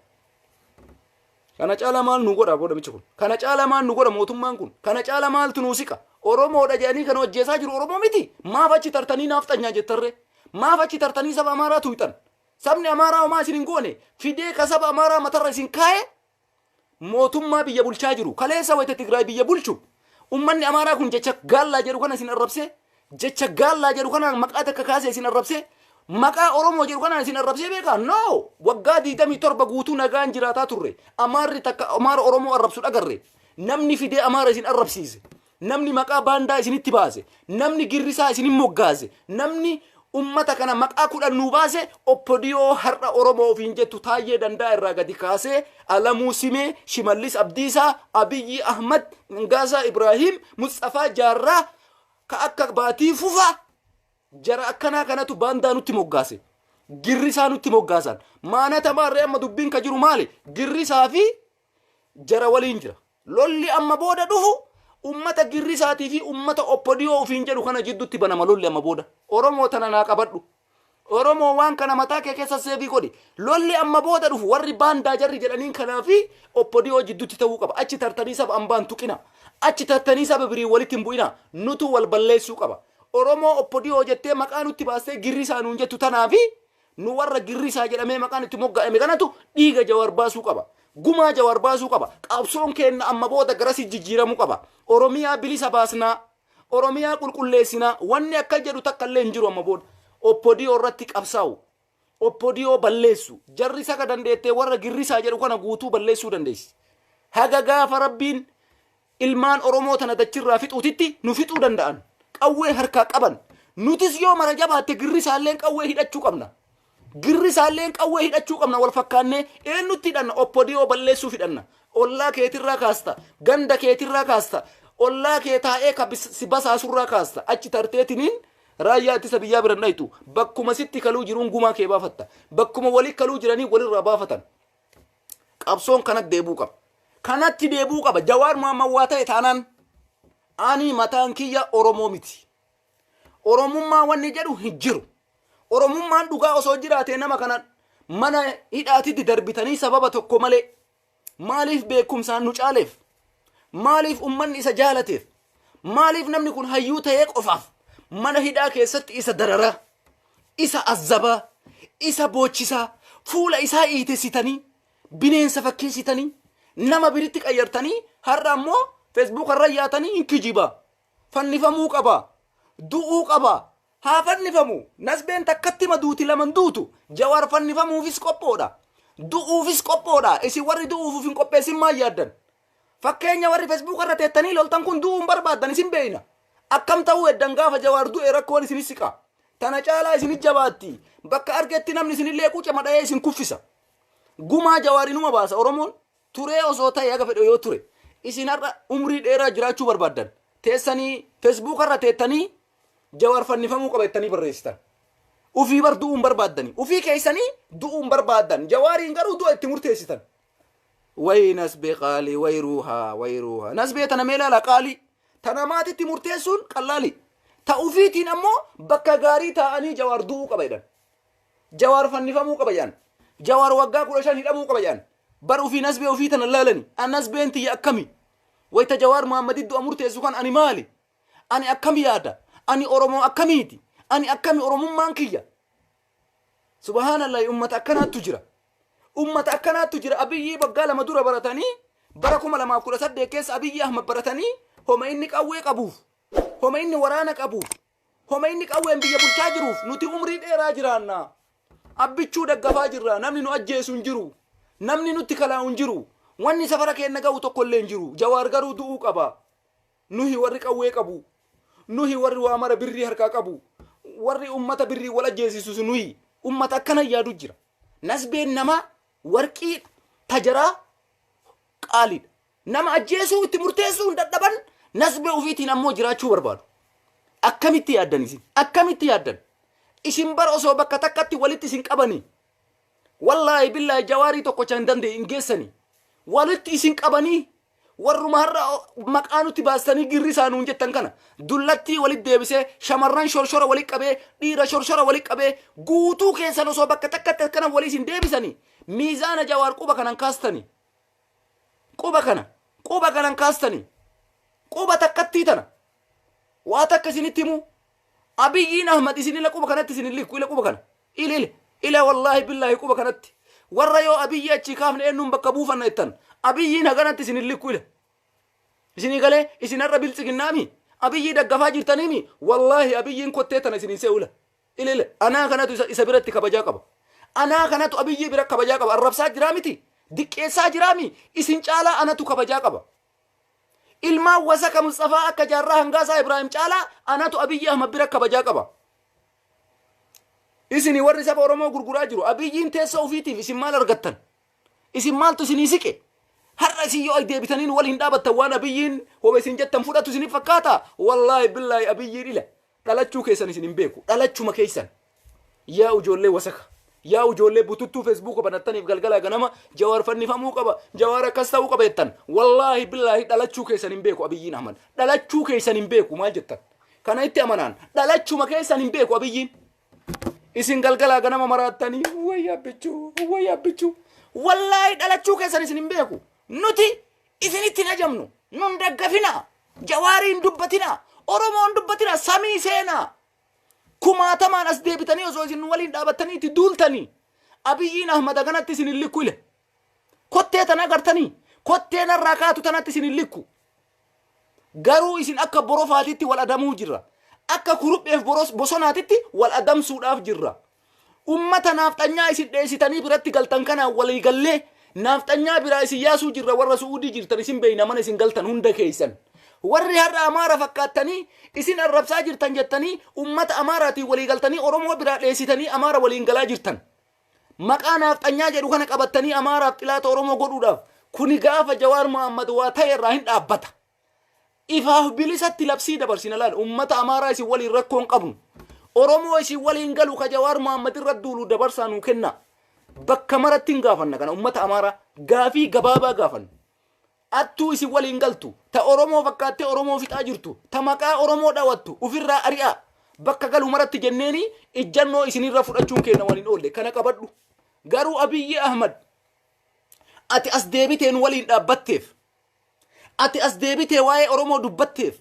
Speaker 1: Kana caala maal nu godha booda michi kun? Kana caala maal nu godha mootummaan kun? Kana caala maaltu nu siqa? Oromoodha jedhanii kan hojjeesaa jiru Oromoo miti. Maaf achi tartanii naaf xanyaa jettarree? Maaf achi tartanii saba Amaaraa tuyxan? Sabni Amaaraa homaa isin hin goone fidee ka saba Amaaraa matarra isin kaa'e mootummaa biyya bulchaa jiru. Kaleessa wayita Tigraay biyya bulchu ummanni Amaaraa kun jecha gaallaa jedhu kana isin arrabsee jecha gaallaa jedhu kanaan maqaa takka kaasee isin arrabsee maqaa Oromoo jedhu kanaan isin arrabsee beekaa? No! Waggaa 27 guutuu nagaan jiraataa turre. Amaarri takka Amaara Oromoo arrabsu dhagarre. Namni fidee Amaara isin arrabsiise. Namni maqaa baandaa isinitti baase, namni girrisaa isinin moggaase, namni ummata kana maqaa kudhan nuu baase OPDO har'a Oromoo ofiin jettu Taayyee Dandaa irraa gadi kaasee Alamuu Simee, Shimallis Abdiisaa, Abiyyii Ahmad, Ngaasaa Ibraahiim, Musxafaa Jaarraa ka akka Baatii Fufaa jara akkanaa kanatu baandaa nutti moggaase. Girrisaa nutti moggaasan. Maanata maarree amma dubbiin ka jiru maali? Girrisaa fi jara waliin jira. Lolli amma booda dhufu ummata girrisaatii fi ummata oppodiyoo ofiin jedhu kana jiddutti banama lolli amma booda. Oromoo tana naa qabadhu. Oromoo waan kana mataa kee keessa seevii godhi. Lolli amma booda dhufu warri baandaa jarri jedhaniin kanaa fi oppodiyoo jiddutti ta'uu qaba. Achi tartanii saba ambaan tuqina. Achi tartanii saba biriin walitti hin bu'ina. Nutuu wal balleessuu qaba. Oromoo oppodiyoo jettee maqaa nutti baastee girrisaa nuun jettu tanaa fi Nu warra girrisaa jedhamee maqaan itti mogga'ame kanatu dhiiga Jawaar baasuu qaba. Gumaa Jawaar baasuu qaba. Qabsoon keenna amma booda garasi jijjiiramuu qaba. Oromiyaa bilisa baasnaa. Oromiyaa qulqulleessinaa. Wanni akka jedhu takka illee hin jiru amma booda. Oppodiyoo irratti qabsaa'u. Oppodiyoo balleessu. Jarri saka dandeettee warra girrisaa jedhu kana guutuu balleessuu dandeessi. Haga gaafa rabbiin Ilmaan Oromoo tana dachirraa fixuutitti nu fixuu danda'an. Qawwee harkaa qaban. Nutis yoo mara jabaatte Girrisaalleen qawwee hidhachuu qabna. Girrisaalleen qawwee hidhachuu qabna wal fakkaannee eennutti hidhanna oppodiyoo balleessuuf hidhanna. Ollaa keetirraa kaasta, ganda keetirraa kaasta, ollaa kee taa'ee ka bis- si basaasurraa kaasta. Achi tarteetiniin raayyaa ittisa biyyaa biran dhayxu. Bakkuma sitti kaluu jiruun gumaa kee baafatta. Bakkuma wali kaluu jiranii walirraa baafatan. Qabsoon kanatti deebuu qaba. Kanatti deebuu qaba. Jawaar Mohaammed waa ta'e taanaan ani mataan kiyya Oromoo miti. Oromummaa wanni jedhu hin jiru. Oromummaan dhugaa osoo jiraatee nama kana mana hidhaatitti darbitanii sababa tokko malee maaliif beekumsaan nu caaleef Maaliif ummanni isa jaalateef? Maaliif namni kun hayyuu ta'ee qofaaf mana hidhaa keessatti isa dararaa, isa azzabaa, isa boochisaa, fuula isaa iitessitanii, bineensa fakkeessitanii, nama biritti qayyartanii har'a ammoo feesbuuka irra yaatanii hin kijibaa, fannifamuu qaba du'uu qaba haa fannifamu nasbeen takkatti ma duuti laman duutu jawaar fannifamuufis qophoodha du'uufis qophoodha isin warri du'uufuuf hin qopheessin maa yaaddan fakkeenya warri fesbuuka irra teettanii loltan kun du'uun barbaaddan isin beeyna akkam ta'uu eddan gaafa jawaar du'e rakkoon isinis siqa tana caalaa isinit jabaatti bakka argetti namni isinillee qucama dha'ee isin kuffisa gumaa jawaarinuma baasa oromoon turee osoo ta'e haga fedhe yoo ture isin har'a umrii dheeraa jiraachuu barbaaddan teessanii fesbuuka irra teettanii jawaar fannifamuu qaba jettanii barreessitan ufii bar du'uun barbaaddanii ufii keessanii du'uun barbaaddan jawaariin garuu du'a itti murteessitan wayi nasbee qaalii wayi ruuhaa wayi ruuhaa nasbee tana mee laala qaalii tana maatitti murteessuun qallaalii ta ufiitiin ammoo bakka gaarii taa'anii jawaar du'uu qaba jedhan Jawaar fannifamuu qaba jedhan. Jawaar waggaa kudha shan hidhamuu qaba jedhan. Bar ofii nasbee ofii tana laalani. An nasbeen tiyya akkami? Wayita Jawaar Mohammedii du'a murteessu kan ani maali? Ani akkam yaada? Ani Oromoo akkamiiti? Ani akkami Oromummaan kiyya? Subhaanallahi ummata akkanaattu jira. Ummata akkanaattu jira Abiyyii waggaa lama dura baratanii bara kuma lamaaf kudha saddeet keessa Abiyyii Ahmad baratanii homa inni qawwee qabuuf homa inni waraana qabuuf Komeyni qawween biyya bulchaa jiruuf nuti umrii dheeraa jiraanna. Abbichuu daggafaa jirra. Namni nu ajjeesu hin jiru. Namni nutti kalaa'u hin jiru. Wanni safara keenna gahu tokkollee hin jiru. Jawaar garuu du'uu qaba. Nuhi warri qawwee qabu. Nuhi warri waa mara birrii harkaa qabu. Warri ummata birriin wal ajjeesisus nuhi. Ummata akkana yaadu jira. Nasbeen namaa warqiidha. Tajaraa qaaliidha. Nama ajjeesuu itti murteessuu hin dadhaban, nasbee ofiitiin ammoo jiraachuu barbaadu. Akkamitti yaaddan isin? Akkamitti yaaddan? Isin bar osoo bakka takkatti walitti isin qabanii, wallaahi billaahi jawaarii tokkocha hin danda'e hin geessanii. Walitti isin qabanii, warruma har'a maqaa nutti baastanii girrisaa nuun jettan kana dullattii walitti deebisee shamarran shorshora walitti qabee dhiira shorshora walitti qabee guutuu keessan osoo bakka takkatti akkana walii isin deebisanii miizaana jawaar quba kanan kaastanii. Quba kana, quba kanan kaastanii, quba takkattii tana, waa takka isinitti himuu, Abiyyiin Ahmad isin ila quba kanatti isin hin likku, ila quba kana, ila, ila, ila wallaahi billaahi quba kanatti, warra yoo Abiyyii achii kaafne eennuun bakka buufanna jettan, Abiyyiin haganatti isin hin likku, ila. Isinii galee? Isin har'a Biltsiginnaa mii? Abiyyii daggafaa jirtanii mii? Wallaahi Abiyyiin kottee tana isin hin se'u, ila. Ilil anaa kanatu isa, isa biratti kabajaa qaba. Anaa kanatu Abiyyii bira kabajaa qaba. Arrabsaa jiraa miti? Diqqeessaa jiraa mi? Isin caalaa anatu kabajaa qaba. Ilmaan wasaka Musxafaa akka Jaarraa Hangaasaa Ibraahim caalaa anatu Abiyyii Ahmad bira kabajaa qaba. Isin warri saba Oromoo gurguraa jiru. Abiyyiin teessoo ofiitiif isin maal argattan? Isin maaltu isinii siqe? Har'a isin yoo as deebitaniin wal hin dhaabattan waan Abiyyiin hoba isin jettan fudhatu isinif fakkaata? Wallaahi billaahi Abiyyiin ila. Dhalachuu keessan isin hin beeku. Dhalachuma keessan. Yaa ijoollee wasaka. Yaa ijoollee bututtuu feesbuuka banattaniif galgala ganama jawaar fannifamuu qaba. Jawaar akkas ta'uu qaba jettan. Wallaahi billaahi dhalachuu keessan hin beeku Abiyyiin Ahmad. Dhalachuu keessan hin beeku maal jettan. Kana itti amanaan. Dhalachuma keessan hin beeku Abiyyiin. Isin galgala ganama maraattanii wayyaa bichuu wayyaa bichuu. Wallaahi dhalachuu keessan isin hin beeku. Nuti Isinitti hin ajamnu. Nu hin daggafinaa. Jawaarii hin dubbatinaa. Oromoo hin dubbatinaa. Samii seenaa. Kumaatamaan as deebitanii osoo isin nu waliin dhaabattanii itti duultanii. Abiyyiin Ahmad haganatti isin hin likku ile. Kottee tana agartanii? Kottee narraa kaatu tanatti isin hin likku. Garuu isin akka borofaatitti wal adamuu jirra. Akka kurupheef boros- bosonaatitti wal adamsuudhaaf jirra. Ummata naafxanyaa isin dheessitanii biratti galtan kanaan walii gallee naafxanyaa biraa isin yaasuu jirra warra su'uudii jirtan isin beeyna mana isin galtan hunda keeysan. Warri har'a amaara fakkaattanii isin arrabsaa jirtan jettanii ummata amaaraatiin walii galtanii oromoo biraa dheessitanii amaara waliin galaa jirtan. Maqaa naafxanyaa jedhu kana qabattanii amaaraaf xilaata oromoo godhuudhaaf kuni gaafa jawaar Muhammad waa ta'e irraa hin dhaabbata. Ifaaf bilisatti labsii dabarsina laal ummata Amaaraa isin waliin rakkoo hin qabnu. Oromoo isin waliin galu ka Jawaar Mohaammed irra duulu dabarsaa nuu kennaa. Bakka maratti hin gaafanna kana ummata Amaaraa gaafii gabaabaa gaafanna. Attuu isin waliin galtu ta Oromoo fakkaattee Oromoo fixaa jirtu ta maqaa Oromoo dhawattu ufirraa ari'aa. Bakka galu maratti jenneeni ijjannoo isinirra fudhachuun keenna waan hin oolle kana qabadhu. Garuu Abiyyi Ahmad ati as deebitee nu waliin dhaabbatteef Ati as deebitee waa'ee Oromoo dubbatteef.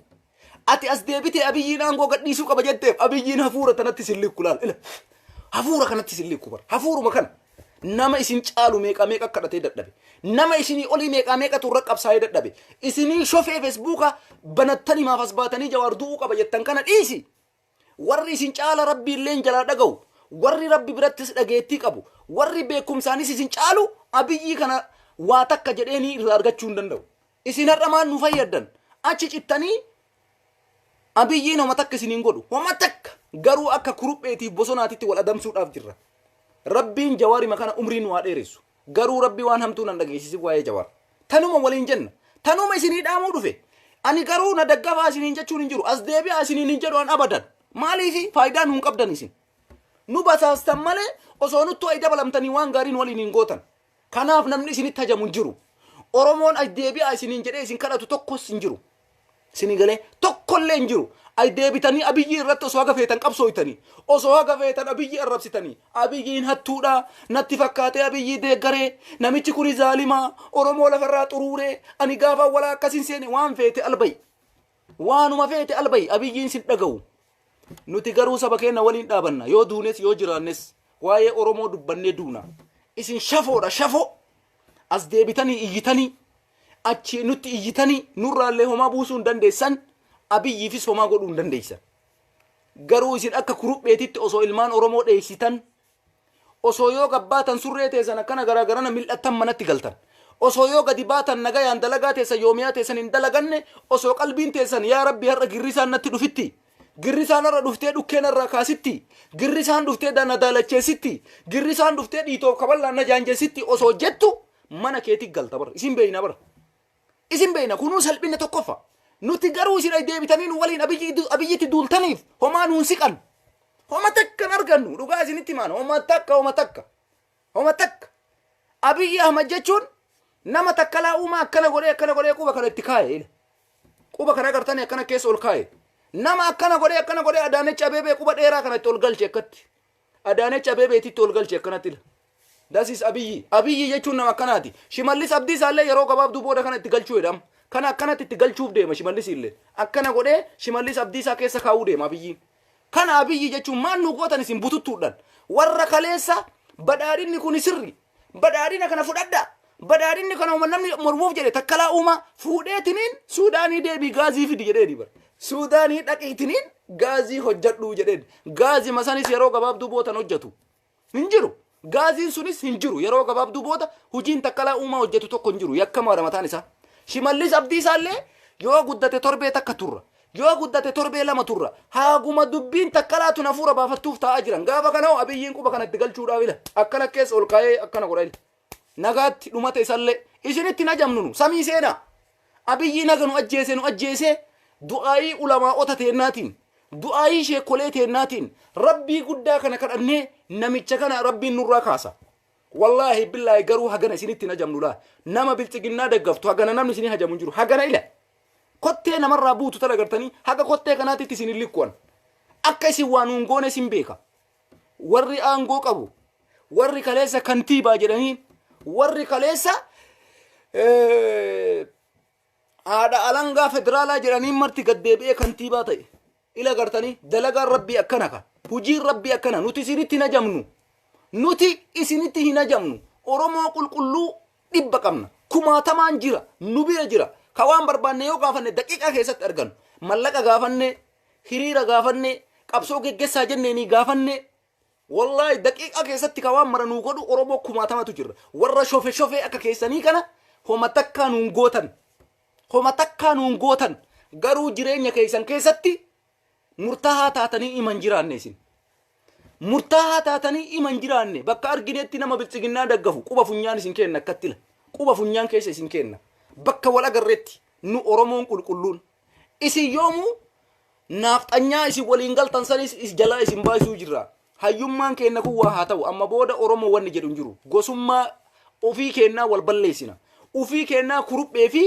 Speaker 1: Ati as deebitee abiyyiin aangoo gadhiisuu qaba jetteef abiyyiin hafuura tanatti sin likku laal. Ila. Hafuura kanatti sin likku bara. Hafuuruma kana. Nama isin caalu meeqaa meeqa kadhatee dadhabe. Nama isinii olii meeqaa meeqatu irra qabsaa'ee dadhabe. Isinii shofee feesbuukaa banattanii maaf as baatanii jawaar du'uu qaba jettan kana dhiisi. Warri isin caala Rabbii illeen jalaa dhagahu, warri Rabbi birattis dhageettii qabu, warri beekkumsaanis isin caalu Abiyyii kana waa takka jedheenii irraa argachuu hin danda'u. Isin har'a maal nu fayyaddan? Achi cittanii Abiyyiin homa takka isin hin godhu. Homa takka! Garuu akka kurupheetiif bosonaatitti wal adamsuudhaaf jirra. Rabbiin Jawaarima kana umrii nu haa dheeressu. Garuu rabbi waan hamtuu nan dhageessisin waa'ee jawaar. Tanuma waliin jenna. Tanuma isinii dhaamuu dhufe. Ani garuu na daggafaa isiniin jechuun hin jiru. As deebi'aa isiniin hin jedhu an abadan. Maaliifi faayidaa nuun qabdan isin. Nu basaastan malee osoo nuttu ay dabalamtanii waan gaarii nu waliin hin gootan. Kanaaf namni isinitti hajamu hin jiru. Oromoon as deebi'aa isiniin jedhee isin kadhatu tokkos hin jiru. Sini galee tokkollee hin jiru. Ay deebitanii abiyyii irratti osoo haga feetan qabsooytanii osoo haga feetan abiyyii arrabsitanii abiyyiin hattuudha natti fakkaatee abiyyii deeggaree namichi kuni zaalimaa oromoo lafarraa xuruuree ani gaafa walaa akkasin seene waan feete albayi waanuma feete albayi abiyyiin sin dhaga'u nuti garuu saba keenya waliin dhaabanna yoo duunes yoo jiraannes waa'ee oromoo dubbannee duuna isin shafoodha shafoo as deebitanii iyyitanii Achi nutti iyyitanii nurraallee homaa buusuu hin dandeessan, Abiyyiifis homaa godhuu hin dandeessan. Garuu isin akka kurupheetitti osoo ilmaan Oromoo dheessitan, osoo yoo gabbaatan surree teessan akkana garaa garana mil'attan manatti galtan. Osoo yoo gadi baatan nagayaan dalagaa teessan yoomiyaa teessan hin dalaganne, osoo qalbiin teessan yaa rabbi har'a girrisaan natti dhufitti. Girrisaan har'a dhuftee dhukkee narraa kaasitti. Girrisaan dhuftee na daalacheessitti. Girrisaan dhuftee dhiitoof kaballaan na jaanjessitti osoo jettu mana keeti galta bar isin beeyna bar isin beeyna kunuu salphinna tokkoffa nuti garuu isin ay deebitanii nu waliin abiyyi abiyyitti duultaniif homaa nuun siqan homa takka hin argannu dhugaa isinitti himaan homa takka homa takka homa takka abiyyi ahmad jechuun nama takkalaa uumaa akkana godhee akkana godhee quba kana itti kaa'e ila quba kana agartanii akkana keessa ol kaa'e nama akkana godhee akkana godhee adaanech abeebee quba dheeraa kana itti ol galche akkatti Adaanech Abeebeetitti ol galche akkanatti ila. That is Abiyyi. Abiyyi jechuun nama akkanaati. Shimallis Abdiisaa illee yeroo gabaabduu booda kana itti galchuu jedhama. Kana akkanatti itti galchuuf deema Shimallis illee. Akkana godhee Shimallis Abdiisaa keessa kaa'uu deema Abiyyiin. Kana Abiyyi jechuun maal nu gootan isin bututtuudhaan. Warra kaleessa badhaadhinni kuni sirri. Badhaadhina kana fudhadhaa. Badhaadhinni kana uuman namni mormuuf jedhe takkalaa uumaa fuudhee tiniin Suudaanii deebii gaazii fidi jedheeni bara. Suudaanii dhaqii tiniin gaazii hojjadhuu jedheen. Gaazii masanis yeroo gabaabduu bootan hojjatu. Hin jiru. Gaaziin sunis hin jiru. Yeroo gabaabduu booda hojiin takkalaa uumaa hojjatu tokko hin jiru. Yakkamaadha mataan isaa. Shimallis abdii isaallee yoo guddate torbee takka turra. Yoo guddate torbee lama turra. Haaguma dubbiin takkalaatun hafuura baafattuuf taa'aa jiran. Gaafa kana hoo abiyyiin quba kanatti galchuudhaaf ila. Akkana keessa ol kaa'ee akkana godha ila. Nagaatti dhumate isallee. Isinitti hin ajamnu nu. Samii seenaa. Abiyyii naga nu ajjeese nu ajjeesee du'aayii ulamaa'ota teennaatiin du'aayii sheekolee teennaatiin rabbii guddaa kana kadhannee namicha kana rabbiin nurraa kaasa. Wallaahi billaahi garuu hagana isinitti hin hajamnu laa. Nama bilxiginnaa daggaftu hagana namni isinii hajamu hin jiru. Hagana ila. Kottee namarraa buutu tan agartanii haga kottee kanaatitti isin hin likkuwan. Akka isin waa nuun goone isin beeka. Warri aangoo qabu. Warri kaleessa kantiibaa jedhanii. Warri kaleessa eh, haadha alangaa federaalaa jedhaniin marti gad deebi'ee kantiibaa ta'e. Ila gartanii dalagaan rabbii akkana ka. Hujiin rabbii akkana nuti isinitti hin ajamnu. Nuti isinitti hin ajamnu. Oromoo qulqulluu dhibba qabna. Kumaatamaan jira. Nu bira jira. Ka waan barbaanne yoo gaafanne daqiiqaa keessatti argannu. Mallaqa gaafanne, hiriira gaafanne, qabsoo geggessaa jenneenii gaafanne, Wollahi daqiiqaa keessatti ka waan mara nuu godhu Oromoo kumaatamatu jirra. Warra shofe shofee akka keessanii kana homa takkaa nuun gootan. Homa takkaa nuun gootan. Garuu jireenya keessan keessatti murtaahaa taatanii ima hin jiraanne isin. Murtaahaa taatanii ima hin jiraanne bakka arginetti nama biltsiginnaa daggafu quba funyaan isin kenna akkatti ila. Quba funyaan keessa isin kenna. Bakka wal agarretti nu Oromoon qulqulluun Isin yoomuu naafxanyaa isin waliin galtan sanis is jalaa isin baasuu jirra. Hayyummaan keenna kun waa haa ta'u amma booda Oromoo wanni jedhu hin jiru. Gosummaa ofii keennaa wal balleessina. Ofii keennaa kuruphee fi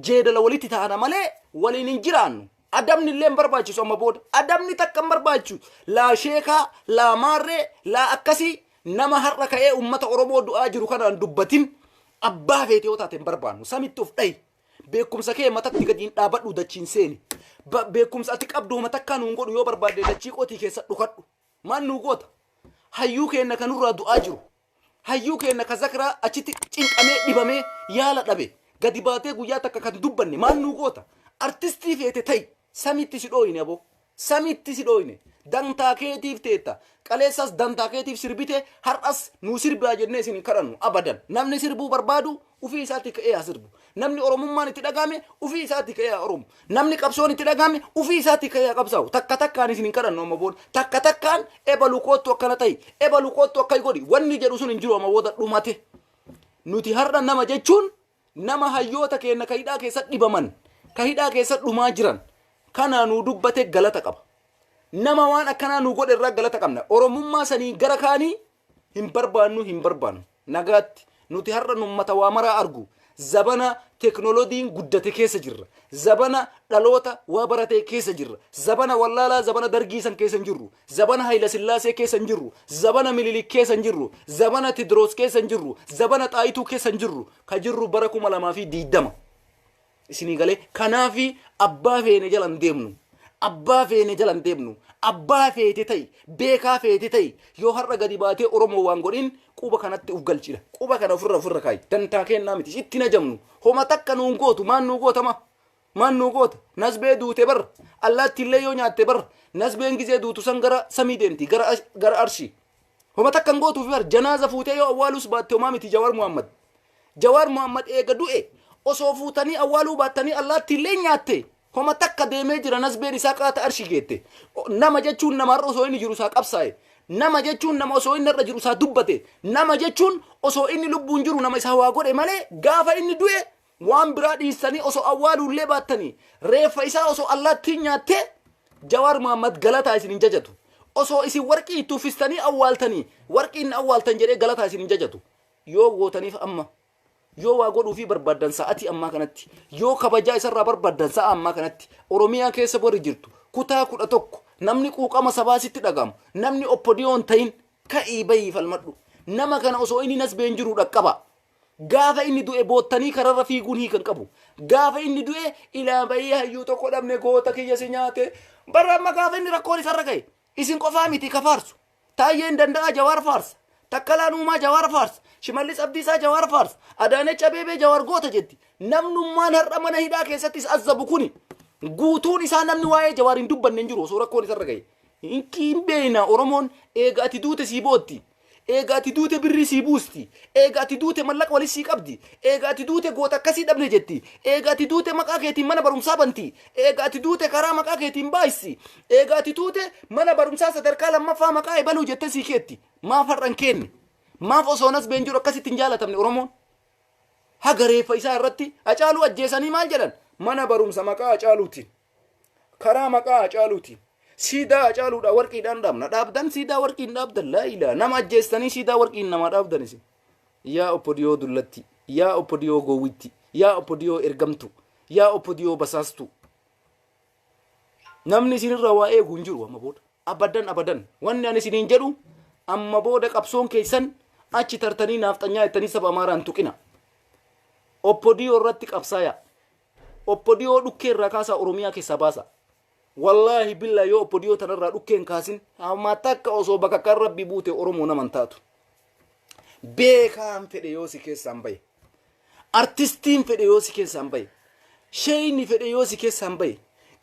Speaker 1: jeedala walitti ta'ana malee waliin hin jiraannu. Adabni illee hin barbaachisu amma booda. Adabni takka hin barbaachisu. Laa sheekaa, laa maarree, laa akkasii nama har'a ka'ee uummata Oromoo du'aa jiru kanaan dubbatin abbaa feete yoo taate hin barbaannu. Samitti of dhahi. Beekumsa kee matatti gadi hin dhaabadhu dachiin seeni. Ba- Beekumsa ati qabdu homa takkaa nuun godhu yoo barbaadde dachii qotii keessa dhukadhu. Maal nuu goota? Hayyuu keenna kan nurraa du'aa jiru. Hayyuu keenna ka zakraa achitti cinqamee dhibamee yaala dhabe. Gadi baatee guyyaa takka kan dubbanne maal nuu goota? Artistii feete ta'i. Samiitti si dhooyine aboo. Samitti si dhooyne. Dantaa keetiif teetta. Kaleessas dantaa keetiif sirbite, har'as nuu sirbaa jennee isin hin kadhannu. Abadan. Namni sirbuu barbaadu ufii isaatii ka'ee haa sirbu. Namni Oromummaan itti dhagahame ufii isaatii ka'ee haa oromu. Namni qabsoon itti dhagahame ufii isaatii ka'ee haa qabsaa'u. Takka takkaan isin hin kadhannu amma booda. Takka takkaan ebalu koottu akkana ta'i, ebalu koottu akkai godhi wanni jedhu sun hin jiru amma booda dhumate. Nuti har'a nama jechuun nama hayyoota keenna ka hidhaa keessa dhibaman, ka hidhaa keessa dhumaa jiran kanaa nuu dubbateef galata qaba. Nama waan akkanaa nuu godhe irraa galata qabna. Oromummaa saniin gara kaanii hin barbaannu hin barbaannu. Nagaatti. Nuti har'a nummata waa maraa argu. Zabana teknolodiin guddate keessa jirra. Zabana dhaloota waa baratee keessa jirra. Zabana wallaalaa zabana dargii san keessa hin jirru. Zabana Hayilasillaasee keessa hin jirru, zabana Minilik keessa hin jirru, zabana Tidroos keessa hin jirru, zabana Xaayituu keessa hin jirru, ka jirru bara kuma lamaa fi diiddama. Isinii galee kanaafi abbaa feene jala hin deemnu. Abbaa feene jala hin deemnu. Abbaa feete ta'i, beekaa feete ta'i. Yoo har'a gadi baatee Oromoo waan godhin quba kanatti uf galchidha. Quba kana ofirra ofirra kaayi. Dantaa keennaa miti. Itti hin ajamnu. Homa takka nuun gootu. Maan nuu gootama? Maan nuu goota? Nasbee duute bar. Allaattiillee yoo nyaatte bar. Nasbeen gizee duutu san gara samii deemti. Gara, ash- gara arshii. Homa takka hin gootuuf bar. Janaaza fuutee yoo awwaalus baatte homaa miti Jawaar Muhammad. Jawaar Muhammad eega du'e osoo fuutanii awwaaluu baattanii allaattiillee nyaatte. Homa takka deemee jira nasbeen isaa qaata arshii geette. O- Nama jechuun nama har'a osoo inni jiru isaa qabsaa'e. Nama jechuun nama osoo inni har'a jiru isaa dubbate. Nama jechuun osoo inni lubbuun jiru nama isaa waa godhe malee gaafa inni du'e Waan biraa dhiistanii osoo awwaaluullee baattanii reeffa isaa osoo allaattiin nyaattee Jawaar Mahaammad galataa isin hin jajatu. Osoo isin warqii itti uffistanii awwaaltanii warqiin na awwaaltan jedhee galataa isin hin jajatu. Yoo gootaniif amma. Yoo waa godhuufii barbaaddan sa'atii ammaa kanatti. Yoo kabajaa isarraa barbaaddan sa'a ammaa kanatti. Oromiyaa keessa warri jirtu kutaa kudha tokko namni quuqama sabaa sitti dhaga'amu namni oppodiyoon ta'in ka'ii bahii falmadhu. Nama kana osoo inni nasbee hin jiruu dhaqqabaa. Gaafa inni du'e boottanii kararra fiiguun hiika hin qabu. Gaafa inni du'e ilaa bayii hayyuu tokko dhabne goota kiyya si nyaate. Bara amma gaafa inni rakkoon isarra ga'e isin qofaa miti ka faarsu. Taayyeen danda'aa jawaar faarsa. Takkalaan uumaa jawaar faarsa. Shimallis Abdiisaa jawaar faarsa. Adaanech Abeebee jawaar goota jetti. Namnummaan har'a mana hidhaa keessatti is azzabu kuni guutuun isaa namni waa'ee jawaar hin dubbanne hin jiru osoo rakkoon isarra ga'e. Hin beeyna Oromoon eega ati duute sii bootti. Eega ati duute birrii sii buusti. Eega ati duute mallaqa walit sii qabdi. Eega ati duute goota akkasii dhabne jetti. Eega ati duute maqaa keetiin mana barumsaa banti. Eega ati duute karaa maqaa keetiin baayissi. Eega ati duute mana barumsaa sadarkaa lammaffaa maqaa ebaluu jettee sii keetti. Maaf har'a hin keenne? Maaf osoo nasbeen jiru akkasitti hin jaalatamne Oromoon? Haga reeffa isaa irratti Hacaaluu ajjeesanii maal jedhan? Mana barumsa maqaa Hacaaluutiin. karaa maqaa Hacaaluutiin siidaa Hacaaluudhaa warqiidhaan dhaabna dhaabdan siidaa warqiin dhaabdan laa ilaa nama ajjeestanii siidaa warqiin namaa dhaabdan isin yaa oppodiyoo dullatti yaa oppodiyoo gowwitti yaa oppodiyoo ergamtu yaa oppodiyoo basaastu namni isinirra waa eegu hin jiru amma booda abadan abadan wanni ani isiniin jedhu amma booda qabsoon keessan achi tartanii naafxanyaa jettanii saba amaaraa hin tuqina oppodiyoo irratti qabsaaya Opdo dhukkee irraa kaasaa Oromiyaa keessaa baasaa. Wallaahi billaahi yoo opdo tana irraa dhukkee hin kaasin hamma takka osoo bakakkaan rabbii buute Oromoo nama hin taatu. Beekaan fedhe yoo si keessaan bahe. Artistiin fedhe yoo si keessaan bahe. Sheeyni fedhe yoo si keessaan bahe.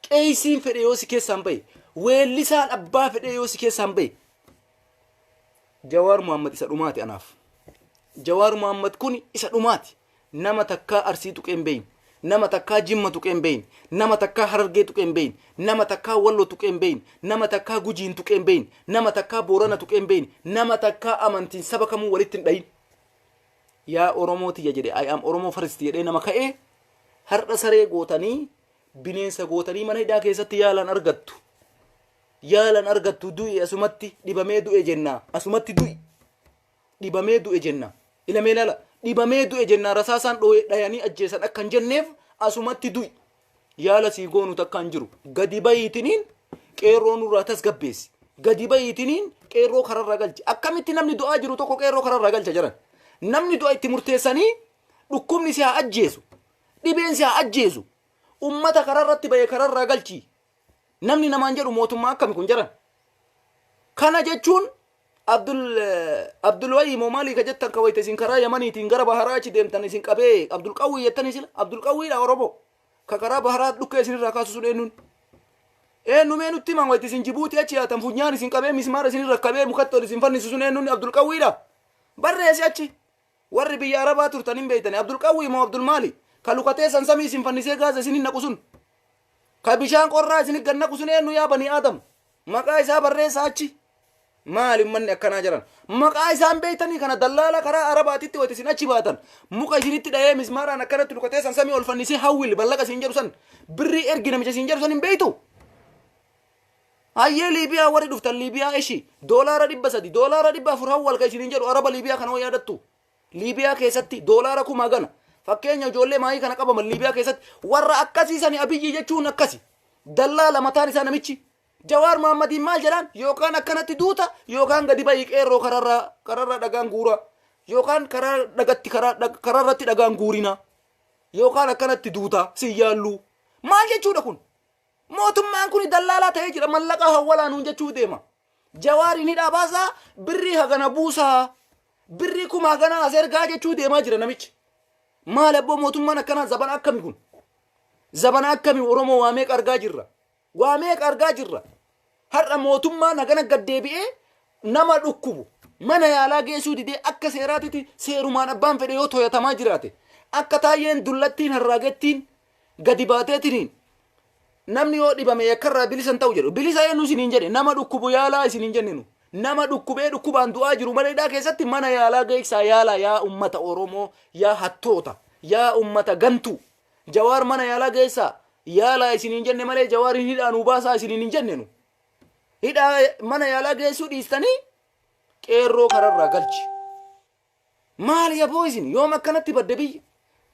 Speaker 1: Qeeysiin fedhe yoo si keessaan bahe. Weellisaan abbaa fedhe yoo si keessaan bahe. Jawaar Muhammad isa dhumaati anaaf. Jawaar Muhammad kun isa dhumaati. Nama takkaa Arsii tuqee hin beeyne. Nama takkaa Jimma tuqee hin beeyne. Nama takkaa Harargee tuqee hin beeyne. Nama takkaa Wallo tuqee hin beeyne. Nama takkaa Gujiin tuqee hin beeyne. Nama takkaa Boorana tuqee hin beeyne. Nama takkaa amantiin saba kamuu walitti hin dhayin. Yaa Oromoo tiyya jedhe I am Oromo first jedhee nama ka'e har'a saree gootanii bineensa gootanii mana hidhaa keessatti yaalan argattu. Yaalan argattu du'i asumatti dhibamee du'e jenna asumatti du'i. dhibamee du'e jenna. Ila mee ilaala, dhibamee du'e jenna rasaasaan dhooye dhayanii ajjeesan akka hin jenneef asumatti du'i. Yaala sii goonu takka hin jiru. Gadi bahiitiniin qeerroo nurraa tasgabbeessi. Gadi bahiitiniin qeerroo kararra galchi. Akkamitti namni du'aa jiru tokko qeerroo kararra galcha jedhan. Namni du'a itti murteessanii dhukkubni si haa ajjeesu. Dhibeen si haa ajjeesu. Ummata kararratti bahee kararraa galchi. Namni namaan jedhu mootummaa akkami kun jaran? Kana jechuun Abdul Abdul Wayyi moo maalii ka jettan ka wayita isin karaa Yamaniitiin gara Baharaa achi deemtan isin qabee Abdul Qawwii jettanii sila Abdul Qawwiidha Oromoo ka karaa Baharaa dhukkee isin irraa kaasu sun eenyuun? Eenyu mee nutti himan wayita isin Jibuutii achi yaatan funyaan isin qabee mismaara isin irra qabee mukatti ol isin fannisu sun eenyuun Abdul Qawwiidha? Barreessi achi warri biyya Arabaa turtan hin beeytani Abdul Qawwii moo Abdul maali? Ka lukatee san samii isin fannisee gaaza isin hin naqu sun Ka bishaan qorraa isinit gad naqu sun eennu yaa banii Aadam? Maqaa isaa barreessaa achi. Maali ummanni akkanaa jaran? Maqaa isaa hin beektanii kana dallaala karaa Arabaatitti wayita isin achi baatan muka isinitti dhahee mismaaraan akkanatti rukatee san samii ol fannisee hawwil ballaqa isin jedhu san birrii ergi namicha isin jedhu san hin beektu? Hayyee Liibiyaa warri dhuftan Liibiyaa eshi doolaara dhibba sadi doolaara dhibba afur hawwal ka isiniin jedhu Araba Liibiyaa kana hoo yaadattu? Liibiyaa keessatti doolaara kuma hagana. Fakkeenya ijoollee maayii kana qabaman Liibiyaa keessatti warra akkasii sani abiyyii jechuun akkasi. Dallaa lamataan isaa namichi. Jawaar Mahaammadiin maal jedhaan yookaan akkanatti duuta yookaan gadi ba'ii qeerroo kararraa kararraa dhagaan guuraa yookaan karaa dhagatti karaa dhag- kararratti dhagaan guurinaa yookaan akkanatti duuta si yaalluu. Maal jechuudha kun? Mootummaan kun dallaalaa ta'ee jira mallaqa hawwalaa nuun jechuu deema. Jawaarin hidhaa baasaa birrii hagana buusaa birrii kuma hagana as ergaa jechuu deemaa jira namichi. Maal abboo mootummaan akkanaa zabana akkami kun? Zabana akkami Oromoo waa meeqa argaa jirra? Waa meeqa argaa jirra? Har'a mootummaan hagana gad deebi'ee nama dhukkubu mana yaalaa geessuu didee akka seeraatitti seerumaan abbaan fedhe yoo toyatamaa jiraate akka taayyeen dullattiin harraagettiin gadi baateetiniin namni yoo dhibame yakkarraa bilisa hin ta'u jedhu bilisa eenyu isiniin jedhe nama dhukkubu yaalaa isiniin jenne nu nama dhukkubee dhukkubaan du'aa jiru mana hidhaa keessatti mana yaalaa geessaa yaalaa yaa ummata oromoo yaa hattoota yaa ummata gantuu jawaar mana yaalaa geessaa yaalaa isiniin jenne malee jawaariin hidhaa nuu baasaa isiniin hin jenne nu hidhaa mana yaalaa geessuu dhiistanii qeerroo kararraa galchi Maali aboo isin yoom akkanatti badde biyyi?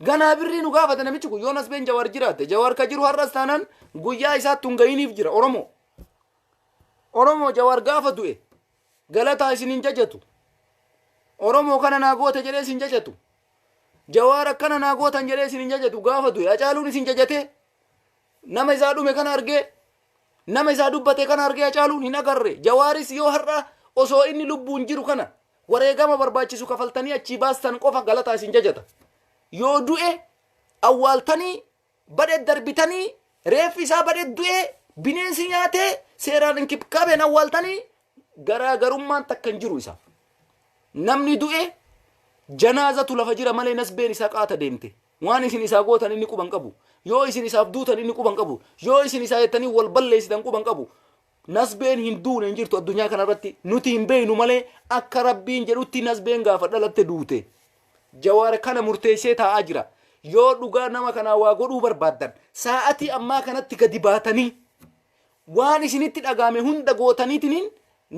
Speaker 1: Ganaa birrii nu gaafata namichi kun yoon asbeen jawaar jiraatte jawaar ka jiru har'as taanaan guyyaa isaatti hin gahiniif jira Oromoo. Oromoo jawaar gaafa du'e galataa isin hin jajatu. Oromoo kana naa goote jedhee isin jajatu. Jawaar akkana naa gootan jedhee isin hin jajatu gaafa du'e acaaluun isin jajatee nama isaa dhume kana argee nama isaa dubbate kana argee acaaluun hin agarre jawaaris yoo har'a osoo inni lubbuun jiru kana Wareegama barbaachisu kafaltanii achii baastan qofa galataa isin jajata. Yoo du'e awwaaltanii badhe darbitanii reeffi isaa badhe du'e bineensi nyaatee seeraan inkibkaabeen awwaaltanii garaagarummaan takka hin jiru isaaf. Namni du'e janaazatu lafa jira malee nasbeen isaa qaata deemte. Waan isin isaa gootan inni quban qabu. Yoo isin isaaf duutan inni quban qabu. Yoo isin isaa jettanii wal balleessitan quban qabu. Nasbeen hin duune hin jirtu addunyaa kanarratti nuti hin beeynu malee akka rabbiin jedhutti nasbeen gaafa dhalatte duute. Jawaar kana murteessee taa'aa jira. Yoo dhugaa nama kanaa waa godhuu barbaaddan saa'atii ammaa kanatti gadi baatanii waan isinitti dhagaame hunda gootaniitiniin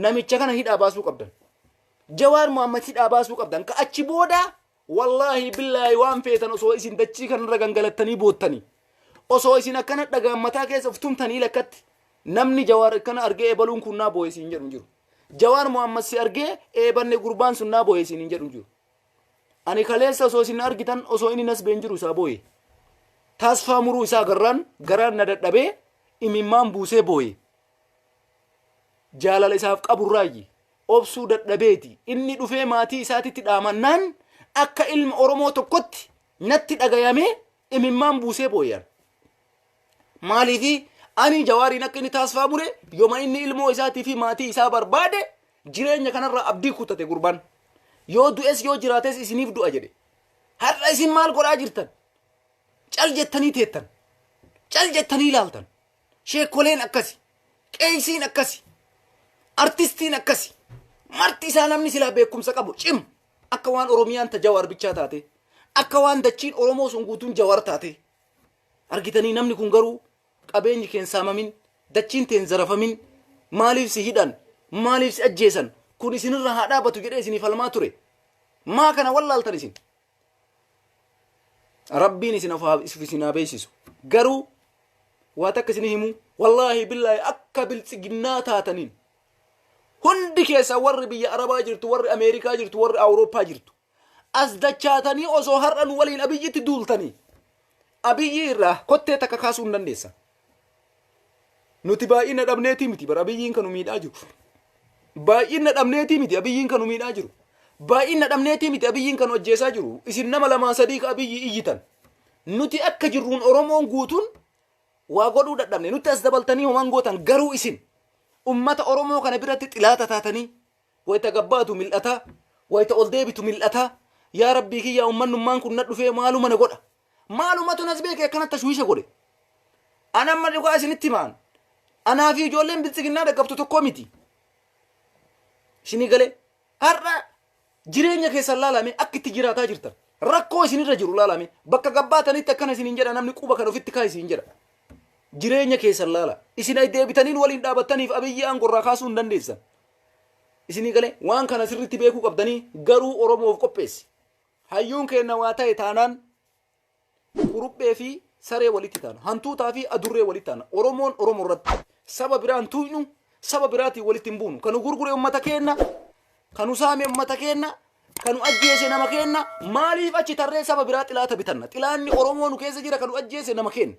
Speaker 1: namicha kana hidhaa baasuu qabdan. Jawaar Mohaammed hidhaa baasuu qabdan. Ka achi booda Wallaahi billaahi waan feetan osoo isin dachii kanarra gangalattanii boottanii osoo isin akkana dhagaan mataa keessa of tumtanii lakkatti namni jawaar akkana argee eebaluun kun naa booye siin jedhu hin jiru. Jawaar Muhammad si argee eebanne gurbaan sun naa booye siin hin jedhu hin jiru. Ani kaleessa osoo isin argitan osoo inni nas been jiru isaa booye. Tasfaa muruu isaa garraan garaan na dadhabee imimmaan buusee booye. jaalala isaaf qaburraayyi obsuu dadhabeeti inni dhufee maatii isaatitti dhaamannaan akka ilma oromoo tokkotti natti dhagayamee imimmaan buusee booyan maaliifi ani jawaariin akka inni taasifaa bule yoma inni ilmoo isaatii fi maatii isaa barbaade jireenya kanarraa abdii kutate gurban yoo du'es yoo jiraates isiniif du'a jedhe har'a isin maal godhaa jirtan cal jettanii teettan cal jettanii ilaaltan Sheekkoleen akkasi. Qeeysiin akkasi. Artistiin akkasi. Marti isaa namni silaa beekumsa qabu cim. Akka waan Oromiyaan ta Jawaar bichaa taate. Akka waan dachiin Oromoo sun guutuun Jawaar taate. Argitanii namni kun garuu qabeenyi keen saamamin, dachiin teen zarafamin, maaliif si hidhan, maaliif si ajjeesan, kun isinirra haa dhaabatu jedhee isinii falmaa ture. Maa kana wallaaltan isin? rabbiin isin of haa- if isin haa beeksisu garuu waa takka isin himu wallaahi billaahi akka biltsiginnaa taataniin hundi keessaa warri biyya arabaa jirtu warri ameerikaa jirtu warri awurooppaa jirtu as dachaatanii osoo har'a nu waliin abiyyitti duultanii abiyyi irraa kottee takka kaasuu hin dandeessan Nuti baay'ina dhabneetii miti bara abiyyiin kan nu miidhaa jiru. Baay'ina dhabneetii miti abiyyiin kan nu miidhaa jiru. Baay'ina dhabneetii miti abiyyiin kan nu ajjeesaa jiru. Isin nama lamaa sadii ka abiyyi iyyitan. Nuti akka jirruun Oromoon guutuun waa godhuu dadhabne. Nutti as dabaltanii homaan gootan garuu isin ummata Oromoo kana biratti xilaata taatanii wayita gabbaatu mil'ataa wayita ol deebitu mil'ataa yaa rabbii kiyyaa ummannummaan kun na dhufee maaluma na godha Maalumatu nas beekee akkana tashwiisha godhe? An amma dhugaa isinitti himaan. Anaa fi ijoolleen biltsiginnaa dhaqqabtu tokkoo miti. Isinii galee har'a jireenya keessan laalame akka itti jiraataa jirtan. Rakkoo isinirra jiru laalame bakka gabbaatanitti akkana isiniin jedha namni quba kan ofitti kaa isiniin jedha. Jireenya keessan laala. Isin ay deebitaniin waliin dhaabattaniif abiyyii aangorraa kaasuu hin dandeessan. Isinii galee waan kana sirriitti beekuu qabdanii garuu Oromoof qopheessi. Hayyuun keenna waa ta'e taanaan kuruphee fi saree walitti taana. Hantuutaa fi adurree walitti taana. Oromoon Oromo irratti saba biraan tuuynu, saba biraatiin walitti hin buunu. Kanu gurgure ummata keenna, kanu saame ummata keenna, kanu ajjeese nama keenna, maaliif achi tarree saba biraa xilaata bitanna? Xilaanni Oromoo nu keessa jira kanu ajjeese nama keenna.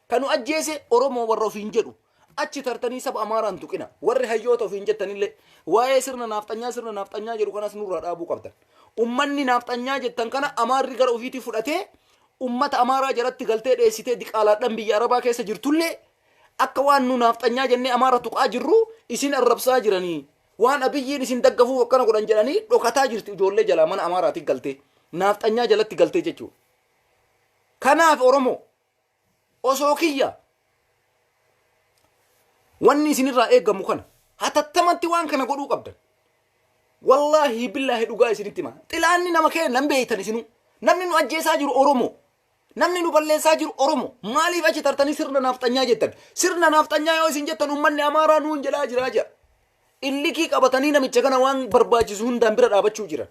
Speaker 1: Kan nu ajjeese Oromoo warra ofiin jedhu achi tartanii saba Amaaraan tuqina. Warri hayyoota ofiin jettanillee waa'ee sirna naafxanyaa sirna naafxanyaa jedhu kanas nurraa dhaabuu qabdan. Ummanni naafxanyaa jettan kana Amaarri gara ofiitii fudhatee ummata Amaaraa jalatti galtee dheessitee diqaalaadhaan biyya Arabaa keessa jirtullee akka waan nu naafxanyaa jennee Amaara tuqaa jirru isin arrabsaa jiranii. Waan abiyyiin isin daggafuuf akkana godhan jedhanii dhokataa jirti ijoollee jalaa mana Amaaraatiin galtee. Naafxanyaa jalatti galtee jechuudha. Kanaaf Oromoo osoo kiyya wanni isinirraa eegamu kana hatattamatti waan kana godhuu qabdan. Wallaahi billaahi dhugaa isinitti hima. Xilaanni nama keenya hin beektan isinuu. Namni nu ajjeesaa jiru Oromoo. Namni nu balleessaa jiru Oromoo. Maaliif achi tartanii sirna naafxanyaa jettan? Sirna naafxanyaa yoo isin jettan uummanni Amaaraa nuun jedhaa jiraa jira. Illikii qabatanii namicha kana waan barbaachisu hundaan bira dhaabachuu jiran.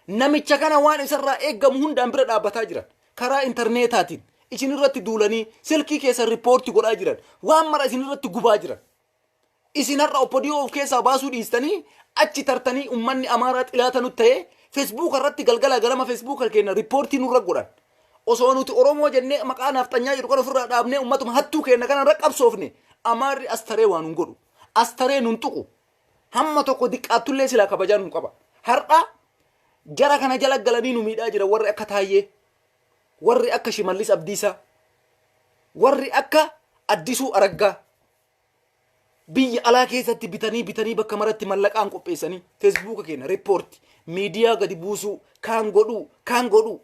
Speaker 1: Namicha kana waan isarraa eeggamu hundaan bira dhaabbataa jiran. Karaa intarneetaatiin isinirratti duulanii silkii keessan rippoorti godhaa jiran. Waan mara isinirratti gubaa jiran. Isin har'a oppodiyoo of keessaa baasuu dhiistanii achi tartanii ummanni Amaaraa xilaata nutti ta'ee feesbuuka irratti galgala galama feesbuuka keenya rippoortii nurra godhan. Osoo nuti Oromoo jennee maqaa naafxanyaa jedhu kan ofirraa dhaabnee ummatuma hattuu keenya kanarra qabsoofne Amaarri astaree waan nun godhu. Astaree nun tuqu. hamma tokko diqqaattullee silaa kabajaa nuu qaba. Har'a jara kana jala galanii nu miidhaa jira warri akka Taayyee, warri akka Shimallis Abdiisaa, warri akka Addisuu Araggaa biyya alaa keessatti bitanii bitanii bakka maratti mallaqaan qopheessanii feesbuuka keenya riippoorti miidiyaa gadi buusuu kaan godhuu kaan godhuu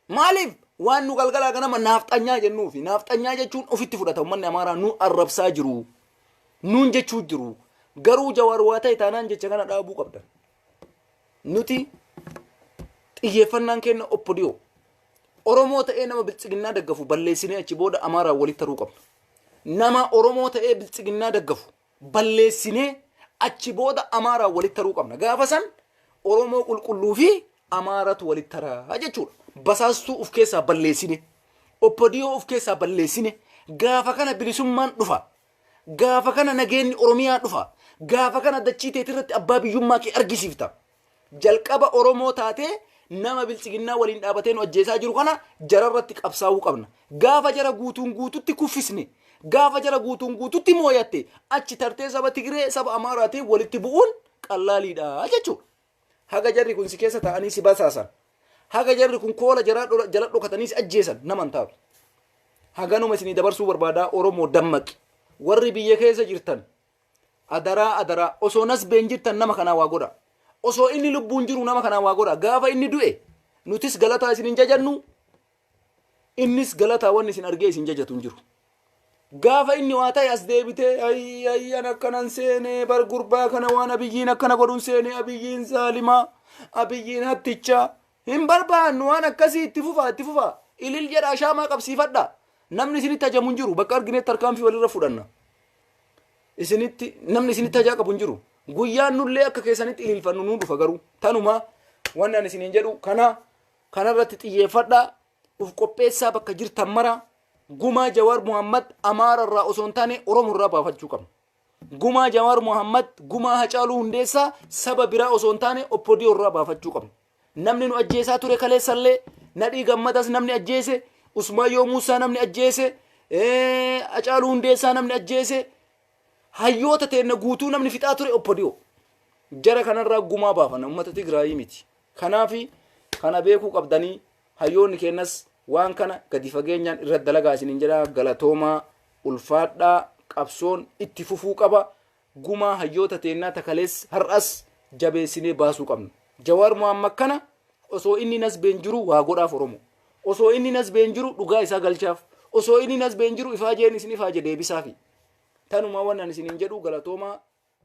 Speaker 1: Maaliif? Waan nu galgalaa ganama naafxanyaa jennuufi. Naafxanyaa jechuun ofitti fudhata uummanni Amaaraa nu arrabsaa jiru. Nuun jechuu jiru. Garuu Jawaar waa ta'e taanaan jecha kana dhaabuu qabdan. Nuti xiyyeeffannaan keenya oppodiyoo. Oromoo ta'ee nama biltsiginnaa daggafu balleessinee achi booda Amaaraan walitti taruu qabna. Nama Oromoo ta'ee biltsiginnaa daggafu balleessinee achi booda Amaaraan walitti taruu qabna. Gaafa san Oromoo qulqulluu fi Amaaratu walitti taraa jechuudha. Basaastuu of keessaa balleessine, oppadiyoo of keessaa balleessine, gaafa kana bilisummaan dhufa. Gaafa kana nageenyi Oromiyaa dhufa. Gaafa kana dachii teetirratti abbaa biyyummaa kee argisiifta. Jalqaba Oromoo taatee nama biltsiginnaa waliin dhaabatee nu ajjeesaa jiru kana jararratti qabsaa'uu qabna. Gaafa jara guutuun guututti kuffisne, gaafa jara guutuun guututti mooyatte achi tartee saba Tigiree, saba Amaaraatiin walitti bu'uun qallaaliidha jechuudha. Haga jarri kun si keessa taa'anii si basaasan, haga jarri kun koola jaraa dhola- jala dhokatanii si ajjeesan nama hin taatu. Haganuma isinii dabarsuu barbaadaa Oromoo dammaqi. Warri biyya keessa jirtan Adaraa adaraa osoo nasbeen jirtan nama kanaa waa godha. Osoo inni lubbuun jiru nama kanaa waa godha. Gaafa inni du'e nutis galataa isin hin jajannu innis galataa wanni isin argee isin jajatu hin jiru. Gaafa inni waa ta'e as deebitee ayii ayii an akkanan seenee bar gurbaa kana waan abiyyiin akkana godhun seenee abiyyiin zaalimaa abiyyiin hattichaa hin barbaannu waan akkasii itti fufaa itti fufaa ilil jedha ashaamaa qabsiifadha namni isinitti hajamu hin jiru bakka arginetti tarkaanfii walirra fudhanna. isinitti namni isinitti hajaa qabu hin jiru guyyaan nullee akka keessanitti ililfannu nuu dhufa garuu tanuma wanni ani isiniin jedhu kana kanarratti xiyyeeffadhaa uf qopheessaa bakka jirtan mara gumaa jawaar muhammad amaara irraa osoo hin taane oromo irraa baafachuu qabna gumaa jawaar muhammad gumaa hacaaluu hundeessaa saba biraa osoo hin taane oppodiyoo irraa baafachuu qabna Namni nu ajjeesaa ture kaleessallee Nadhii Gammadas namni ajjeese, Usmaayyoo Muusaa namni ajjeese, eh, Hacaaluu Hundeessaa namni ajjeese, hayyoota teenna guutuu namni fixaa ture oppodiyoo. Jara kanarraa gumaa baafana uummata Tigraayii miti. Kanaafi kana beekuu qabdanii hayyoonni keennas waan kana gadi fageenyaan irra dalagaa isiniin jedha galatoomaa ulfaadhaa qabsoon itti fufuu qaba. Gumaa hayyoota teennaa ta kaleessa, har'as jabeessinee baasuu qabna. Jawaar Mohammad kana osoo inni nasbeen jiruu waa godhaaf Oromoo. Osoo inni nasbeen jiru dhugaa isaa galchaaf. Osoo inni nasbeen jiru ifaajeen isin ifaaje deebisaafi. Tanumaa waan ani isiniin jedhu galatoomaa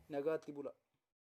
Speaker 1: nagaatti bula.